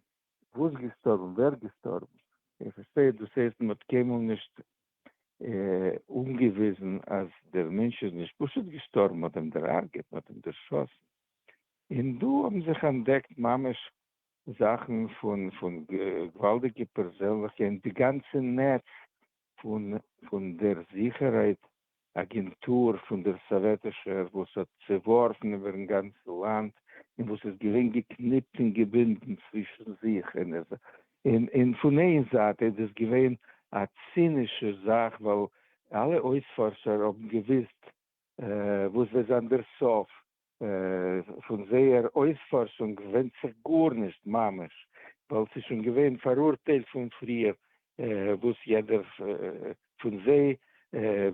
וואס געשטארבן? ווער געשטארבן? איך פארשטיי, דאס הייסט מען האט קיינמאל נישט אנגעוויזן אז דער מענטש איז נישט פשוט געשטארבן, מען האט אים דער'הרג'עט, מען האט אים דערשאסן. און דא האבן זיך אנטדעקט ממש זאכן פון געוואלדיגע פערזענליכע, און די גאנצע נעץ פון דער זיכערהייט אגענטור פון דער סאוועטישער, וואס האט צעווארפן איבער'ן גאנצן לאנד און וואס איז געווען געקניפט און געבינדן צווישן זיך, און פון איין זייט איז דאס געווען א צינישע זאך, ווייל אלע אויספארשער האבן געוואוסט וואס וועט זיין דער סוף, פון זייער אויספארשונג ווענדט זיך גארנישט ממש, ווייל ס'איז שוין געווען פאראורטיילט פון פריער וואס יעדער פון זיי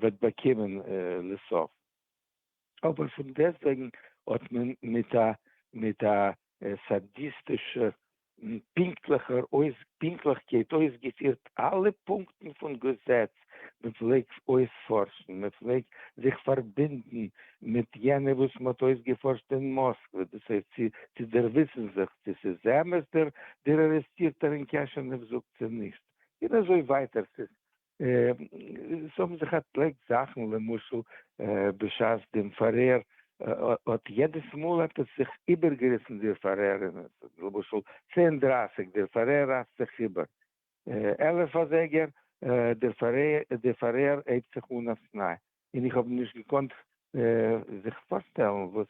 וועט באקומען לסוף, אבער פון דעסטוועגן האט מען מיט א מיט א סאדיסטישע און פונקטליכער אויס פונקטליכקייט אויסגעפירט אלע פונקטן פון געזעץ, מען פלעג אויספארשן, מען פלעג זיך פארבינדן מיט יענע וואס מען האט אויסגעפארשט אין מאסקווע, דאס הייסט צו צו דערוויסן זיך צו ס'איז אמת דער דער ארעסטירטער אין קעשענעוו זאגט צו נישט, און אזוי ווייטער. ס'איז עס האבן זיך אטלעקט זאכן למשל בשעת דעם פארהער האט יעדעס מאל האט עס זיך איבערגעריסן דער פארהער אין למשל צען דרייסיג דער פארהער רייסט זיך איבער עלף אזייגער דער פארהער הייבט זיך אן אויף ניי און איך האב נישט געקאנט זיך פארשטעלן וואס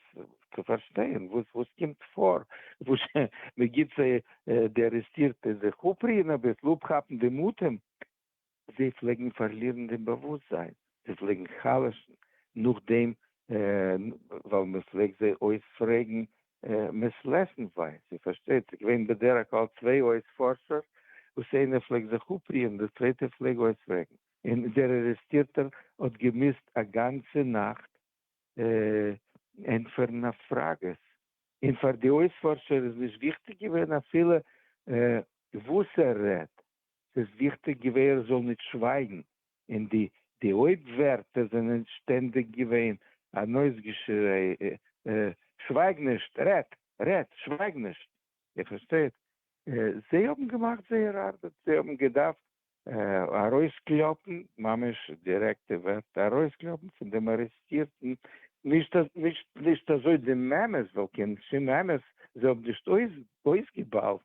צו פארשטיין וואס וואס קומט פאר, וואס מען גיבט זיי די ארעסטירטע זיך אפרוען אביסל, אפכאפן דעם אטעם, זיי פלעגן פארלירן דעם באוואוסטזיין, זיי פלעגן חלש'ן, נאכדעם ווייל מען פלעגט זיי אויספרעגן מעסלעשנווייז, איר פארשטייט, ס'איז געווען בדרך כלל צוויי אויספארשער וואס איינער פלעגט זיך אפרוען און דער צווייטער פלעג אויספרעגן. און דער ארעסטירטער האט געמוזט א גאנצע נאכט ענטפערן אויף פראגעס, און פאר די אויספארשער איז נישט וויכטיג געווען אפילו וואס ער רעדט, ס'איז וויכטיג געווען ער זאל נישט שווייגן, און די הויפט ווערטער זענען שטענדיג געווען אן אויסגעשריי, שווייג נישט! רעד! רעד! שווייג נישט! איר פארשטייט? זיי האבן געמאכט זייער ארבעט, זיי האבן געדארפט ארויסקלאפן, ממש דירעקטע ווערטער, ארויסקלאפן פון דעם ארעסטירטן, נישט נישט אזוי די מעמעס, ווייל קיין שום מעמעס זיי האבן נישט אויסגעבאלט,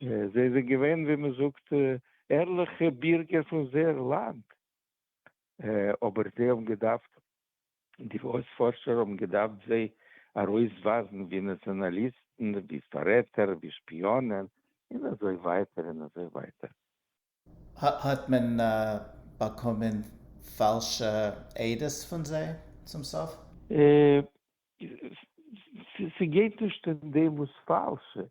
זיי זענען געווען ווי מען זאגט ערליכע בירגער פון זייער לאנד, אבער זיי האבן געדארפט די אויספארשער האבן געדארפט זיי ארויסווייזן ווי נאציאנאליסטן, ווי פאררעטער, ווי שפיאנען, און אזוי ווייטער און אזוי ווייטער. האט מען באקומען פאלשע עדות פון זיי צום סוף? ס'גייט נישט אין דעם וואס פאלשע,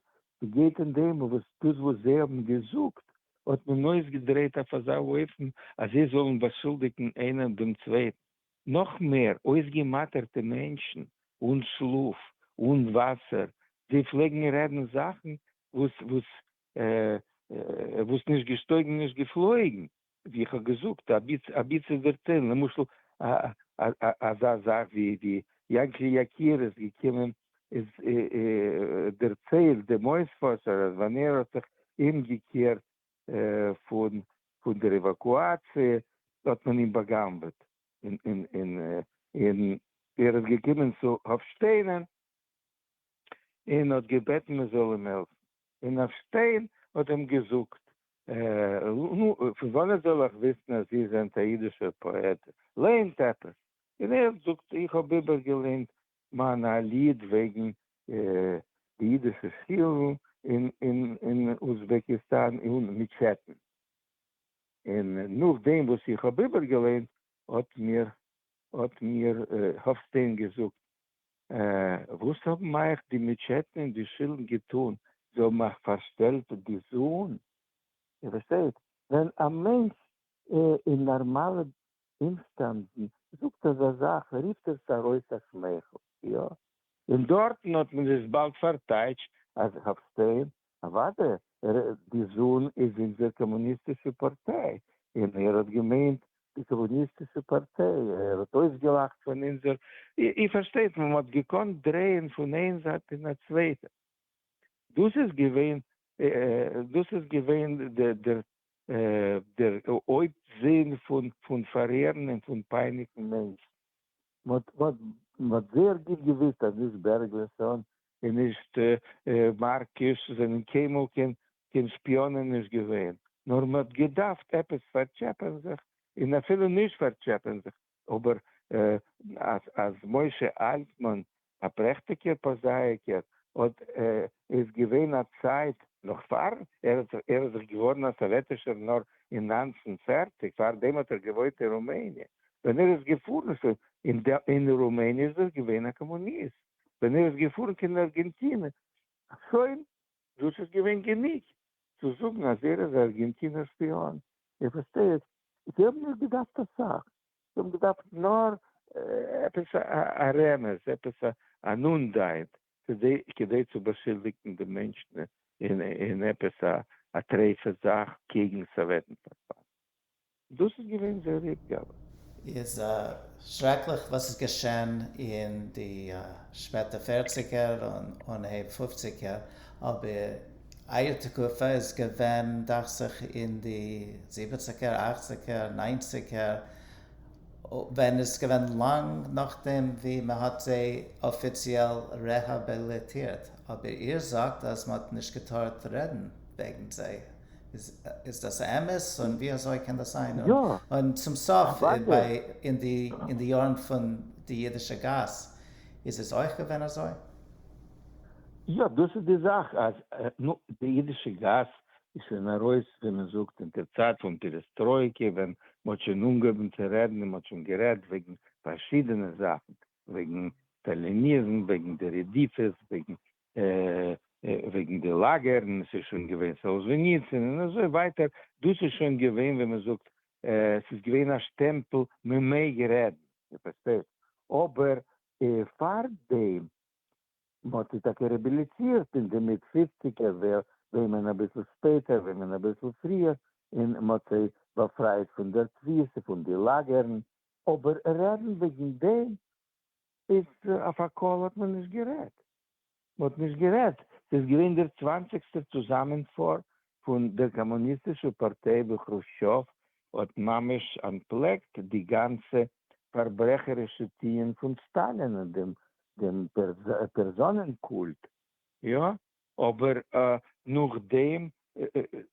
ס'גייט אין דעם וואס דאס וואס זיי האבן געזאגט האט מען אויסגעדרייט אויף אזא אופן אז זיי זאלן באשולדיגן איינער דעם צווייטן. נאך מער, אויסגעמאטערטע מענטשן, אן שלאף, אן וואסער, זיי פלעגן רעדן זאכן וואס וואס נישט געשטויגן נישט געפלויגן, ווי איך האב געזאגט, אביצער דערציילן, למשל אזא זאך ווי יענקל יקיר איז געקומען איז דערציילט דעם אויספארשער אז ווען ער האט זיך אומגעקערט פון פון דער עוואקואציע האט מען אים באגנבעט און און און און ער איז געקומען צו האפשטיין און און האט געבעטן מען זאל אים העלפן און האפשטיין האט אים געזאגט נו פון וואנעט זאל איך וויסן אז איר זענט א אידישער פאעט לערנט עפעס און ער זאגט איך האב איבערגעלערנט מאן א ליד וועגן די אידישע שולן אין אוזבעקיסטאן און מיטשעטן, און נאכדעם וואס איך האב איבערגעליינט האט מיר האט מיר האפסטיין געזאגט, וואס האבן אייך די מיטשעטן און די שולן געטאן? זיי האבן אייך פארשטעלט די זון? איר פארשטייט? ווען א מענטש אין נארמאלע אומשטענדן, זאגט אזא זאך, רופט עס ארויס א שמייכל, יא? און דארטן האט מען עס באלד פארטייטשט אז האפשטיין, אוודאי, ר די זון איז אונזער קאמוניסטישע פארטיי, און ער האט געמיינט די קאמוניסטישע פארטיי, ער האט אויסגעלאכט פון אונזער, איר פארשטייט, מען האט געקאנט דרייען פון איין זייט אין א צווייטע, דאס איז געווען, דאס איז געווען דער דער הויפט זיל פון פארהערן און פון פייניגן מענטשן. מען האט זייער גוט געוואוסט אז נישט בערגלעסאן און נישט מארקיש זענען קיינמאל קיין שפיאנען נישט געווען, נאר מען האט געדארפט עפעס פארטשעפען זיך, און אפילו נישט פארטשעפען זיך, אבער אז משה אלטמאן א פרעכטיגער פראזאייקער האט איז געווען א צייט נאך פאר ער איז זיך געווארן א סאוועטישער נאר אין נײַנצן פֿערציק פאר דעם האט ער געוואוינט אין רומעניע ווען ער איז געפארן אין רומעניע איז ער געווען א קאמוניסט ווען ער איז געפארן קיין ארגענטינע שוין דאס איז געווען גענוג צו זאגן אז ער איז א ארגענטינער שפיאן. איר פארשטייט? זיי האבן נישט געדארפט אסאך, זיי האבן געדארפט נאר עפעס א רמז, עפעס אן אנדייט, כדי צו באשולדיגן די מענטשן אין עפעס א טרפה זאך קעגן סאוועטן פארפאלן. דאס איז געווען זייער התגרות. איז שרעקליך וואס איז געשען אין די שפעטע פערציגער און אנהייב פופציגער, אבער אייער תקופה איז געווען דאכט זיך אין די זיבעציגער אכציגער ניינציגער, ווען איז געווען לאנג נאכדעם ווי מען האט זיי אפיציעל רעהאביליטירט, אבער איר זאגט אז מען האט נישט געטארט רעדן וועגן זיי. איז דאס א אמת און ווי אזוי קען דאס זיין? און צום סוף אין די אין די יארן פון די אידישע גאס איז עס אויך געווען אזוי? יא דאס איז די זאך אז נו די אידישע גאס איז שוין ארויס ווי מען זאגט אין די צייט פון פירעסטרויקע ווען מען האט שוין אנגעהויבן צו רעדן און מען האט שוין גערעדט וועגן פארשידענע זאכן וועגן סטאליניזם וועגן די רדיפות וועגן וועגן די לאגערן, עס איז שוין געווען סאלזוויניצין און אזוי ווייטער, דאס איז שוין געווען ווי מען זאגט עס איז געווען א שטעמפל מען מעג רעדן, איר פארשטייט, אבער פארדעם מען האט זיך טאקע רעביליטירט אין די מיט פופציגער ווער וועמען אביסל שפעטער וועמען אביסל פריער און מען האט זיי באפרייט פון דער תפיסה פון די לאגערן, אבער רעדן וועגן דעם איז אויף א קול האט מען נישט גערעדט, מען האט נישט גערעדט, ס'איז געווען דער צוואנציגסטער צוזאמענפאר פון דער קאמוניסטישער פארטיי וואו כרושטשאוו האט ממש אנטפלעקט די גאנצע פארברעכערישע טוען פון סטאלין און דעם דעם פערזאנען קולט, יא, אבער נאכדעם,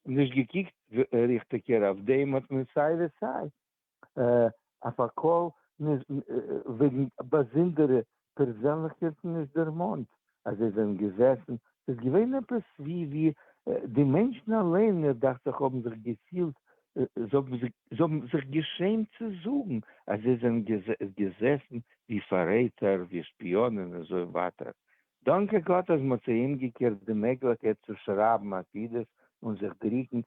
נישט געקוקט ריכטיגער אויף דעם, האט מען סיי ווי סיי אויף א קול וועגן באזונדערע פערזענליכקייטן נישט דערמאנט אז זיי זענען געזעסן, ס'איז געווען עפעס ווי ווי די מענטשן אליין מיר דאכט זיך האבן זיך געפילט, זיי האבן זיך געשעמט צו זאגן אז זיי זענען געזעסן ווי פאררעטער, ווי שפיאנען און אזוי ווייטער, דאנקע גאט אז מ'האט זיי אומגעקערט די מעגליכקייט צו שרייבן עתידות און זיך דרוקן.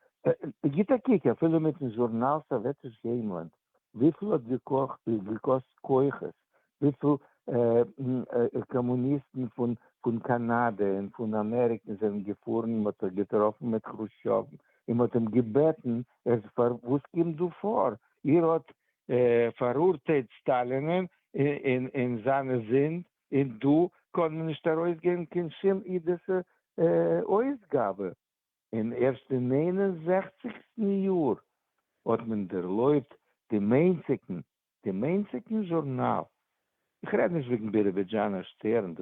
גיט א קוק אפילו מיטן זשורנאל סאוועטיש היימלאנד, וויפיל האט געקאסט כוחות, וויפיל קאמוניסטן פון קאנאדע און פון אמעריקען זענען געפארן און מ'האט זיך געטראפן מיט כרושטשוב און מ'האט אים געבעטן ער וואס קומט דא פאר, איר האט פאראורטיילט סטאלינען און זיינע זינד און דא קען מען נישט ארויסגעבן קיין שום אידישע אויסגאבע. און ערשט אין נײַן און זעכציקסטן יאר האט מען ערלויבט דעם איינציגן, דעם איינציגן זשורנאל, איך רעד נישט וועגן ביראבידזשאנער שטערן,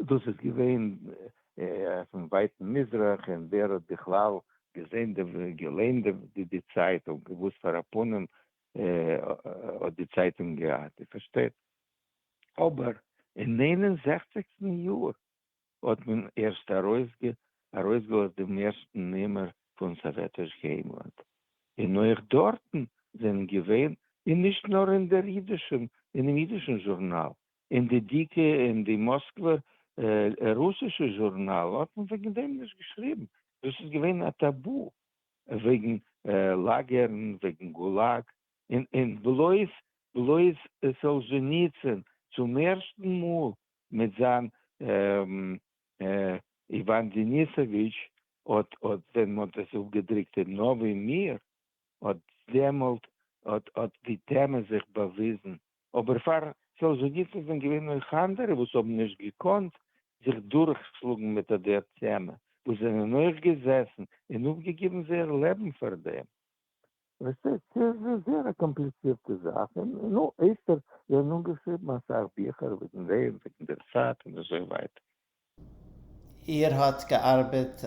דאס איז געווען אויפן ווייטן מזרח, און ווער האט בכלל געזען געליינט די צייטונג, וואס פאר א פנים האט די צייטונג געהאט, איר פארשטייט? אבער אין נײַן און זעכציקסטן יאר האט מען ערשט ארויסגעלאזט דעם ערשטן נומער פון סאוועטיש היימלאנד, און אויך דארטן זענען געווען, און נישט נאר אין דער אידישען, אינעם אידישן זשורנאל, אין די דיקע, אין די מאסקווער רוסישע זשורנאלן האט מען וועגן דעם נישט געשריבן, דאס איז געווען א טאבו, וועגן לאגערן, וועגן גולאג, און און בלויז בלויז סאלזשעניצין צום ערשטן מאל מיט זיין איוואן דעניסאוויטש האט האט ווען מ'האט דאס אפגעדרוקט אין נאווי מיר האט דעמאלט האט האט די טעמע זיך באוויזן אבער פאר סאלזשעניצין זענען געווען אויך אנדערע וואס האבן נישט געקאנט זיך דורכשלאגן מיט אט דער טעמע וואס זענען אויך געזעסן און אפגעגעבן זייער לעבן פאר דעם ווייסטו, ס'איז א זייער א קאמפליצירטע זאך, און נו, אויסטער זענען אנגעשריבן אסאך ביכער וועגן דעם, וועגן דער צייט און אזוי ווייטער. איר האט געארבעט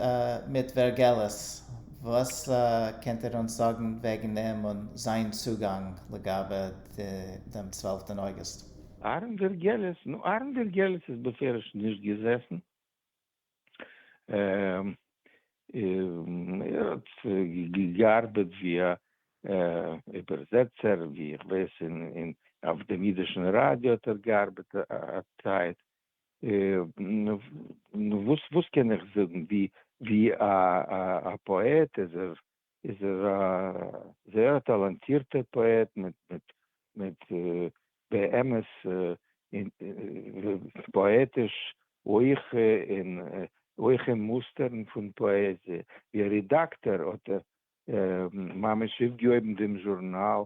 מיט ווערגעליס, וואס קענט איר אונז זאגן וועגן אים און זיין צוגאנג לגבי דעם צוועלפטען אוגוסט? אהרן ווערגעליס? נו, אהרן ווערגעליס איז בפירוש נישט געזעסן. ער האט געארבעט ווי א איבערזעצער, ווי איך ווייס אין אויף דעם אידישן ראדיא האט ער געארבעט א צייט, וואס קען איך זאגן, ווי א פאעט איז ער איז ער א זייער טאלאנטירטע פאעט מיט באמת פאעטיש הויכע און הויכע מוסטערן פון פאעזיע. ווי א רידאקטאר האט ער ממש אויפגעהויבן דעם זשורנאל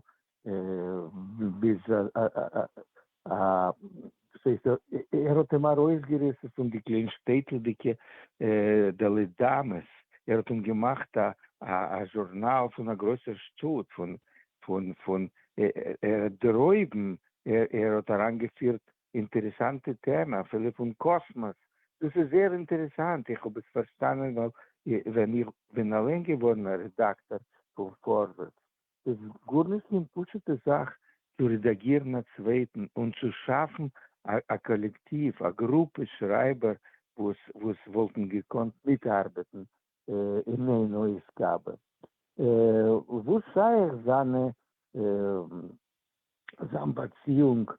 ביז א וואס הייסט ער האט אים ארויסגעריסן פון די קליין שטעטלדיגע דעלי דאמעס, ער האט אים געמאכט א א זשורנאל פון א גרויסער שטאט, פון פון פון דרויבן, ער האט אריינגעפירט אינטערעסאנטע טעמע אפילו פון קאסמאס, דאס איז זייער אינטערעסאנט, איך האב עס פארשטאנען ווייל ווען איך בין אליין געווארן א רעדאקטאר פון פארווערטס איז גארנישט קיין פשוטע זאך צו רעדאגירן א צווייטן און צו שאפן א קאלעקטיוו, א גרופע שרייבער וואס וואלטן געקאנט מיטארבעטן אין איין אויסגאבע. וואס שייך זיינע זיין באציאונג,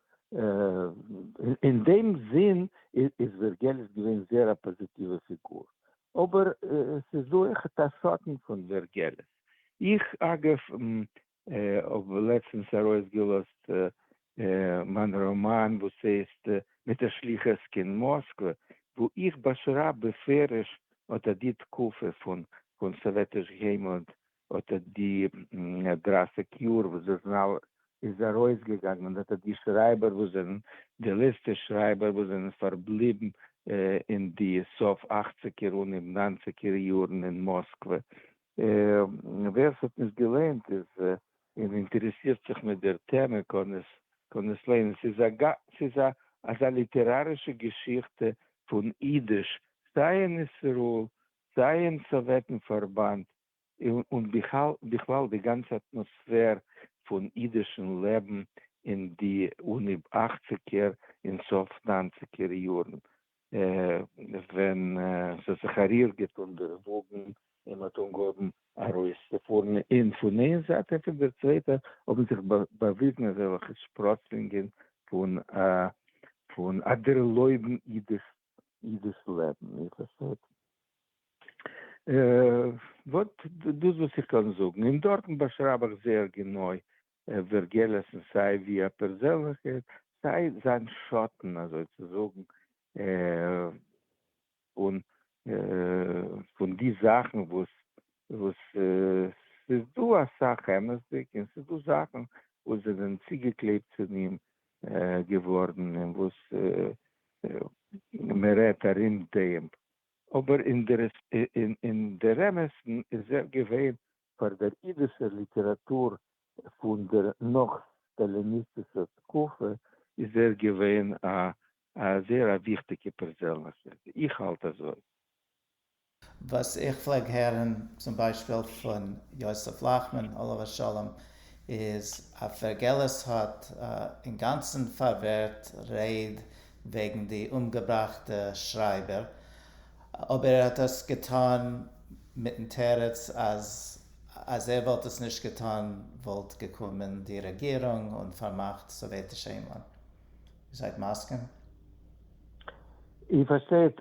אין דעם זין איז ווערגעליס געווען זייער א פאזיטיווע פיגור. אבער ס'איז דא עכט א שטן פון ווערגעליס. איך אגב האב לעצטנס ארויסגעלאזט מיין ראמאן וואס הייסט מיט א שליחות קיין מאסקווע, וואו איך באשרייב בפירוש אט די תקופה פון סאוועטיש היימלאנד האט ער די דרײַסיק יאר וואס די זנל איז ארויס געגאנגען און האט ער די שרייבער וואס זענען די לעצטע שרייבער וואס זענען פארבליבן אין די סוף אכציגער און אין ניינציגער יארן אין מאסקווע. ווער ס'האט נישט געליינט איז און אינטערעסירט זיך מיט דער טעמע קען עס קען עס ליינען. ס'איז א גא ס'איז א אזא ליטערארישע געשיכטע פון אידיש סיי אין ישראל סיי אין סאוועטן פארבאנד. און בכלל די גאנצע אטמאספער פון אידישן לעבן אין די אן י אכציגער און סוף ניינציגער יארן ווען ס'האט זיך א ריר געטון די וואגן און מ'האט אנגעהויבן ארויסצופארן און פון איין זייט און פון דער צווייטער האבן זיך באוויזן אזעלכע שפראצלינגען פון א דערלויבן אידיש אידיש לעבן, איר פארשטייט? וואט דאס וואס איך קען זאגן, און דארטן באשרייב איך זייער גענוי ווערגעלעסן סיי ווי א פערזענליכער, סיי זיין שאטן אזוי צו זאגן, פון פון די זאכן וואס וואס ס'איז דא אסאך אמת'דיג, און ס'איז דא זאכן וואס זענען צוגעקלעבט צו אים געווארן און וואס מען רעדט ארום דעם, אבער אינדערעמעסטן איז ער געווען פאר דער אידישער ליטעראטור פון דער נאך-סטאליניסטישער תקופה איז ער געווען א א זייער א וויכטיגע פערזענליכקייט, איך האלט אזוי. וואס איך פלעג הערן צום ביישפיל פון יוסף לאכמאן עליו השלום איז א פערגעלעס האט אינגאנצן פארווערט רייד וועגן די אומגעבראכטע שרייבער אבער ער האט דאס געטאן מיטן תירוץ אז אז ער וואלט עס נישט געטאן וואלט געקומען די רעגירונג און פארמאכט סאוועטיש ענגלאנד. איר זייט מסכים? איר פארשטייט,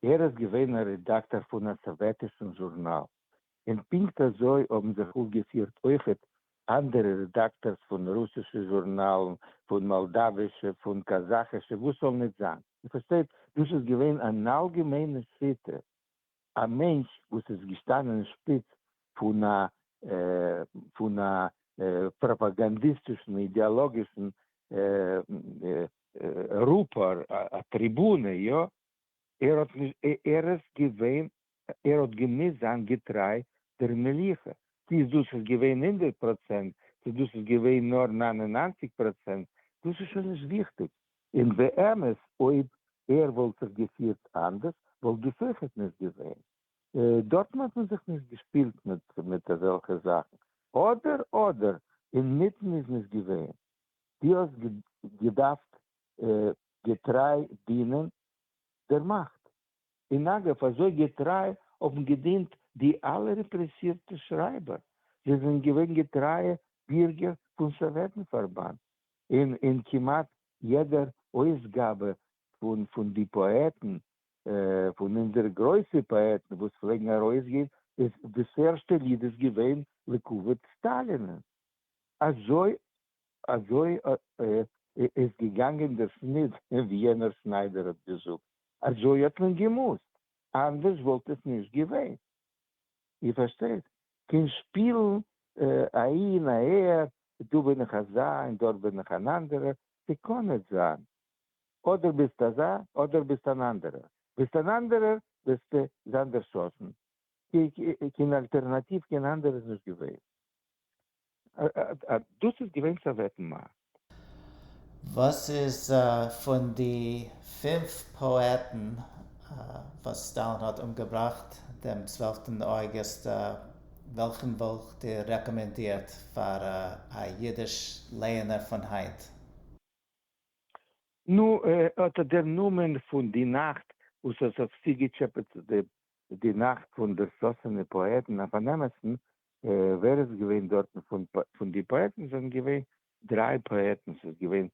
ער איז געווען א רעדאקטאר פון א סאוועטישן זשורנאל, און פונקט אזוי האבן זיך אויפגעפירט אויכעט אנדערע רעדאקטארס פון רוסישע זשורנאלן, פון מאלדאווישע, פון קאזאכישע, וואס זאל ניט זיין. איר פארשטייט, דאס איז געווען אן אלגעמיינע שיטה. א מענטש וואס איז געשטאנען אין שפיץ פון א פון א פראפאגאנדיסטישן אידעאלאגישן רופער, א טריבונע, יא, ער האט נישט ער איז געווען ער האט געמוזט זיין געטריי דער מלוכה, צו איז דאס איז געווען הונדערט פראצענט צו דאס איז געווען נאר ניין און ניינציג פראצענט, דאס איז שוין נישט וויכטיג, און באמת אויב ער וואלט זיך געפירט אנדערש וואלט דאס אויכעט נישט געווען. דארטן האט מען זיך נישט געשפילט מיט אזעלכע זאכן. אדער אדער, אינמיטן איז נישט געווען. דו האסט געדארפט געטריי דינען דער מאכט. און אגב, אזוי געטריי האבן געדינט די אלע רעפרעסירטע שרייבער. זיי זענען געווען געטרייע בירגער פון סאוועטן פארבאנד. און אין כמעט יעדער אויסגאבע פון די פאעטן, פון אונזערע גרויסע פאעטן וואס פלעגן ארויסגיין, איז דאס ערשטע ליד איז געווען לכבוד סטאלין. אזוי אזוי איז געגאנגען דער שניט, ווי יענער שניידער האט געזאגט, אזוי האט מען געמוזט, אנדערש וואלט עס נישט געווען. איר פארשטייט? קען שפילן אהין אהער, דא בין איך אזא און דארט בין איך אן אנדערער, ס'קען ניט זיין. אדער ביסט אזא אדער ביסט אן אנדערער. ביסט אן אנדערער וועסטו זיין דערשאסן. קיין אלטערנאטיוו קיין אנדערע איז נישט געווען. דאס איז געווען סאוועטן מ. וואס איז פון די פֿינף פאעטן וואס סטאלין האט אומגעבראכט דעם צוועלפטן אוגוסט, וועלכן וואלט איר רעקאמענדירט פאר א אידיש לייענער פון היינט? נו, אט דער נאמען פון די נאכט וואס עס האט צוגעטשעפעט די איז די נאכט פון דערשאסענע פאעטן אויף אן אמת'ן, ווער איז געווען דארטן פון. פון די פאעטן זענען געווען דריי פאעטן, ס'איז געווען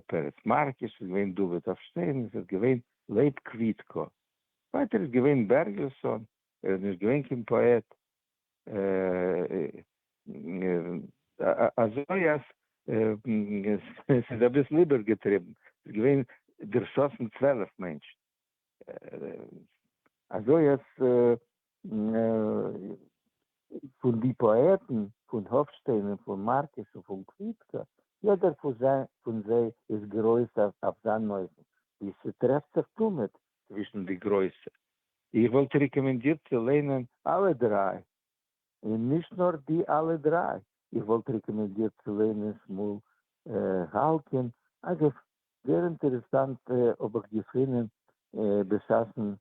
פרץ מארקוש, ס'איז געווען דוד אפשטיין, און ס'איז געווען לייב קוויטקא. ווייטער איז געווען בערגעלסאן, ער איז נישט געווען קיין פאעט. אזוי אז ס'איז אביסל איבערגעטריבן, ס'איז געווען דערשאסן צוועלף מענטשן. אזוי אז פון די פאעטן פון האפשטיין און פון מארקוס און פון קוויטקא, יעדער פון זיי איז גרויס אויף זיין אופן, ווי ס'טרעפט זיך תמיד צווישן די גרויסע. איך וואלט רעקאמענדירט צו ליינען אלע דריי, און נישט נאר די אלע דריי, איך וואלט רעקאמענדירט צו ליינען שמואל האלקין, אגב זייער אינטערעסאנט האב איך געפונען בשעת'ן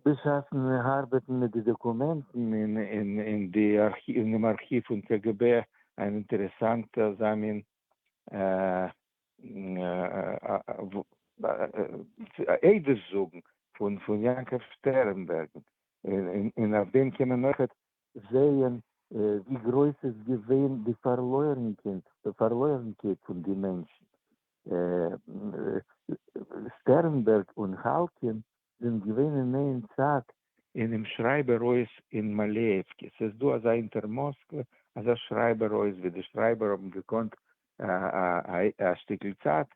בשעת'ן ארבעטן מיט די דאקומענטן אין אין די אינעם ארכיוו פון קה גע בע, אן אינטערעסאנטע אזא מין עדות זאגן פון פון יעקב שטערנבערגן, און אויף דעם קען מען אויכעט זעהן ווי גרויס איז געווען די פארלוירנקייט פון די מענטשן. שטערנבערג און האלקין זענען געווען אין איין צייט. אינעם שרייבער הויז אין מאלעווקע. ס'איז דא אזא אונטער מאסקווע אזא שרייבער הויז ווי די שרייבער האבן געקאנט א שטיקל צייט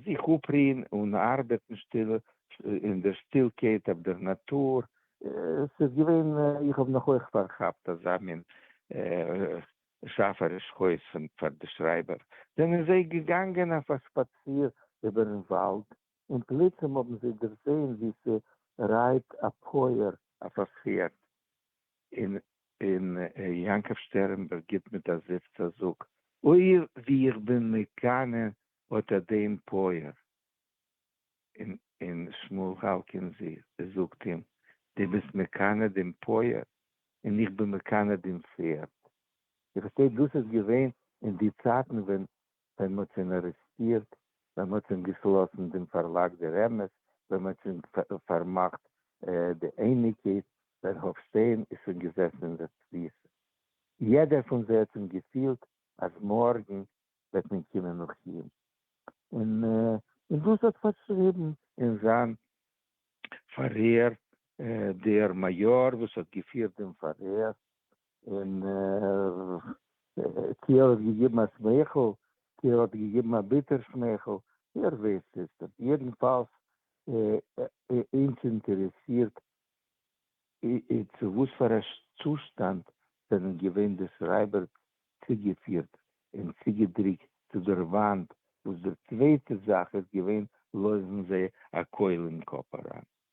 זיך אפרוען און ארבעטן שטיל אין דער שטילקייט אויף דער נאטור. עס איז געווען, איך האב נאך אויך פארכאפט אזא מין שאפעריש חוזק פאר די שרייבער, זענען זיי געגאנגען אויף א שפאציר איבערן וואלד, און פלוצים האבן זיי דערזען ווי ס'רייט א פויער אויף א פערד, און און יעקב שטערנבערג גיט מיט א זיפץ א זאג, אוי ווי איך בין מקנא אטא דעם פויער. און שמואל האלקין זי ע זאגט אים, דו ביסט מקנא דעם פויער, און איך בין מקנא דעם פערד. איך פארשטיי דאס איז געווען אין די צייטן ווען ווען מען האט אים ארעסטירט, ווען מען האט אים געשלאסן דעם פארלאג דער אמת, ווען מען האט שוין פארמאכט די אייניקעס, ווען האפשטיין איז שוין געזעסן אין דער תפיסה. יעדער פון זיי האט אים געפילט אז מארגן וועט מען קומען נאך אים. און דאס האט פארשריבן אין זיין פארהער דער מעיאר וואס האט געפירט דעם פארהער, און צו ער האט געגעבן א שמייכל צו ער האט געגעבן א ביטער שמייכל, ווער ווייסט עס דען? יעדנפאלס אונז אינטערעסירט צו וואס פאר א צושטאנד זענען געווען די שרייבערס צוגעפירט און צוגעדריקט צו דער וואנט, וואס די צווייטע זאך איז געווען לויפן זיי א קויל אין קאפ אריין.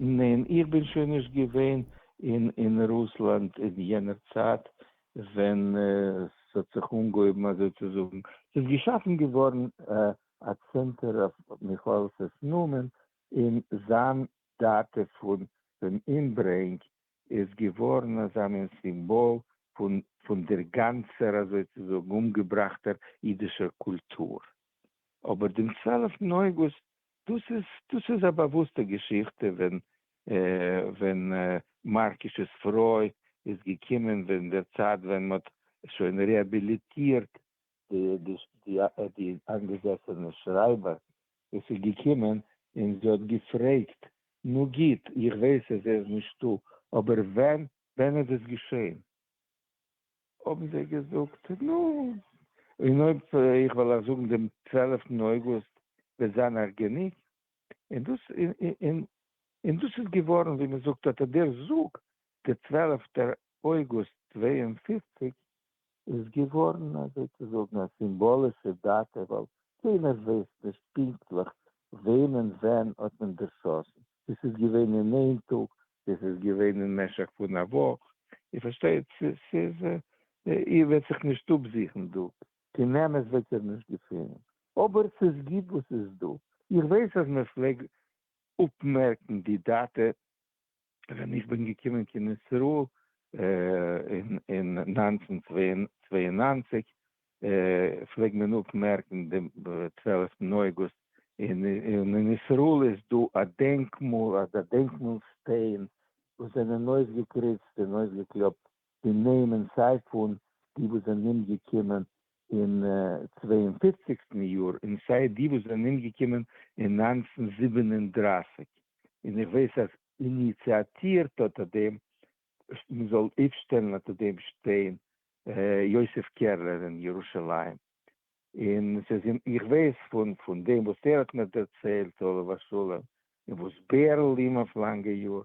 ניין, איך בין שוין נישט געווען אין רוסלאנד אין יענער צייט ווען ס'האט זיך אנגעהויבן אזוי צו זאגן. ס'איז געשאפן געווארן א צענטער אויף מיכאעלסעס נאמען, און זיין דאטע פון דעם אומברענג איז געווארן אזא מין סימבאל פון דער גאנצער אזוי צו זאגן אומגעבראכטער אידישער קולטור. אבער דעם צוועלפטן אויגוסט דאס איז דאס איז א באוואוסטע געשיכטע ווען ווען מארקיש'ס פרוי איז געקומען ווען דער צייט ווען מען האט שוין רעהביליטירט די איינגעזעסענע שרייבער וואס איז געקומען און זי האט געפרעגט נו גוט איך ווייס אז ער איז נישטא אבער ווען ווען איז עס געשעהן? האבן זיי געזאגט, נו, און אויב איך וועל אייך זאגן דעם צוועלעפטן אויגוסט וועט זיין אייך גענוג, און דאס און און דאס איז געווארן ווי מען זאגט אט דער זאג, דער צוועלעפטער אויגוסט צוויי און פֿופֿציק איז געווארן אזוי צו זאגן א סימבאלישע דאטע ווייל קיינער ווייסט נישט פונקטליך וועמען ווען האט מען דערשאסן, דאס איז געווען אין איין טאג, דאס איז געווען אין משך פון א וואך, איר פארשטייט, ס'איז, איר וועט זיך נישט אפזוכן דא, קיין אמת וועט איר נישט געפינען, אבער ס'איז גוט וואס ס'איז דא, איך ווייס אז מען פלעג אפמערקן די דאטע ווען איך בין געקומען קיין ישראל אין נײַנצן צוויי און נײַנציק, פלעגט מען אפמערקן דעם צוועלעפטן אוגוסט און אין ישראל איז דא א דענקמאל א דענקמאל שטיין וואס זענען אויסגעקריצט און אויסגעקלאפט די נעמען סיי פון די וואס זענען אומגעקומען אין צוויי און פופציגסטן יאר און סיי די וואס זענען אומגעקומען אין נײַנצן זיבן און דרײַסיק און איך ווייס אז איניציאטירט האט דעם מען זאל אויפשטעלן אונטער דעם שטיין יוסף קערלער אין ירושלים, און עס איז אים, איך ווייס פון דעם וואס ער האט מיר דערציילט עליו השלום, און וואס בערל אים אויף לאנגע יאר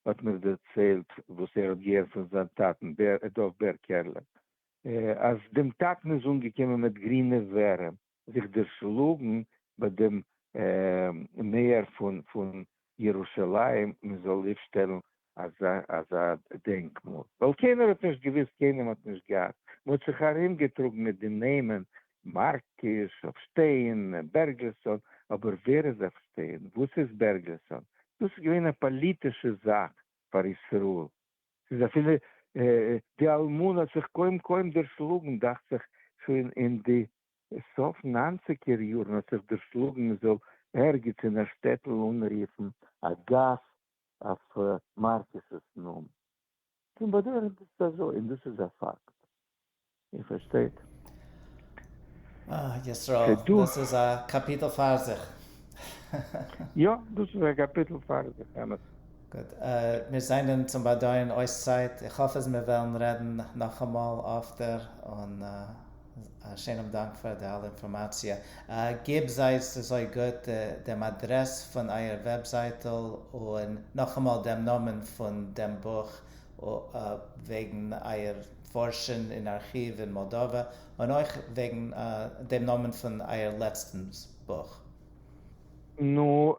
האט מיר דערציילט וואס ער האט געהערט פון זיין טאטן דוב בער קערלער, אז דעם טאטן איז אנגעקומען מיט גרינע ווערים זיך דערשלאגן ביי דעם מעיאר פון ירושלים מען זאל איר שטעלן אזא דענקמאל, ווייל קיינער האט נישט געוואוסט, קיינעם האט נישט געהאט, מען האט זיך ארום געטראגן מיט די נעמען מארקיש, עפשטיין, בערגלסאן, אבער ווער איז עפשטיין, וואס איז בערגלסאן, דאס איז געווען א פאליטישע זאך פאר ישראל, ס'איז אפילו די אלמנה האט זיך קוים קוים דערשלאגן דאכט זיך שוין אין די סוף נײַנציקער יאָרן האָט זיך דערשלאָגן מע זאָל ערגעץ אין אַ שטעטל אָנרופֿן אַ גאַס אויף מאַרקיסעס נאָמען. פֿון באַדויערן איז עס אַזוי, און דאָס איז אַ פֿאַקט. איר פֿאַרשטייט? אָה, ישׂראל, דאָס איז אַ קאַפּיטל פֿאַר זיך. יאָ, דאָס איז אַ קאַפּיטל פֿאַר זיך, אמת. גוט, מיר זײַנען צום באַדויערן אויס צײַט. איך האָף, אַז מיר וועלן רעדן נאָך אַ מאָל אָפֿטער און. א שיינעם דאנק פאר די אלע אינפארמאציע. גיב זייט אזוי גוט דעם אדרעס פון אייער וועבזייטל און נאכאמאל דעם נאמען פון דעם בוך וועגן אייער פארשן אין ארכיוו אין מאלדאווע און אויך וועגן דעם נאמען פון אייער לעצטן בוך. נו,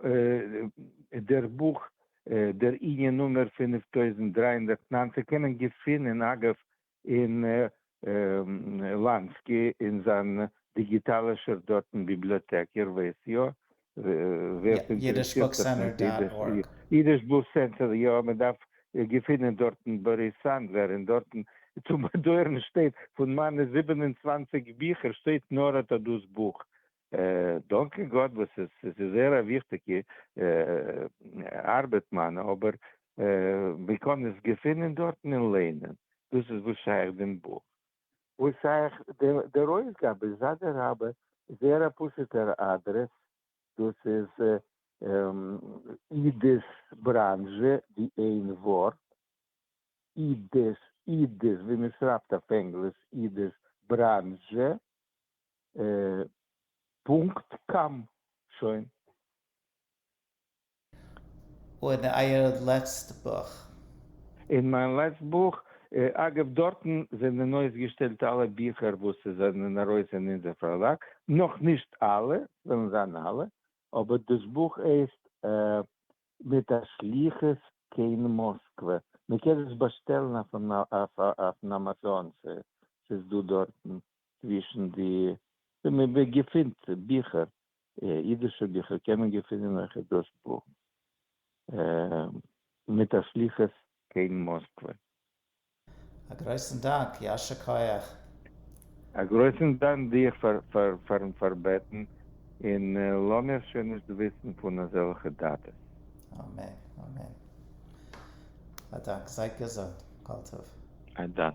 דער בוך דער ענין נומער פֿינף טויזנט דרײַ הונדערט נײַנצן קען מען געפינען אגב און לאנסקי און זיין דיגיטאלישער דאטן ביבליאטעק, איר ווייסט יא ווער ס'אינטערעסירט זיך מיט אידיש. אידיש בוך סענטער, יא, מ'דארף געפינען דארטן באריס סאנדלער, און דארטן צום באדויערן שטייט פון מיינע זיבן און צוואַנציק ביכער שטייט נאר אטא דאס בוך, דאנקע גאט וואס עס איז זייער א וויכטיגע ארבעט מיינע, אבער מען קען עס געפינען דארטן און ליינען, דאס איז וואס שייך דעם בוך. וואס שייך דער אויסגאבע, איז אדע רבה זייער א פשוטער אדרעס, דאס איז איד'ס בראנזשע, די איין ווארט, איד'ס, איד'ס ווי מען שרייבט אויף ענגליש איד'ס בראנזשע, פונקט קאם שוין. און אייער לעצט בוך? אין מיין לעצט בוך, אגב דארטן זענען אויסגעשטעלט אלע ביכער וואס זענען ארויס אין אונזער פארלאג, נאך נישט אלע, וועלן זיין אלע, אבער דאס בוך הייסט מיט א שליחות קיין מאסקווע, מען קען עס באשטעלן אויפן אויפן אמאזאן, ס'איז דא דארטן. צווישן די ווי מען געפינט ביכער, אידישע ביכער, קען מען געפינען אויכעט דאס בוך מיט א שליחות קיין מאסקווע. א גרויסן דאנק, יישר כח. א גרויסן דאנק דיר פארן פארבעטן, און לאמיר שוין נישט וויסן פון אזעלכע דאטאס. אמן אמן. א דאנק. זייט געזונט. כל טוב. א דאנק.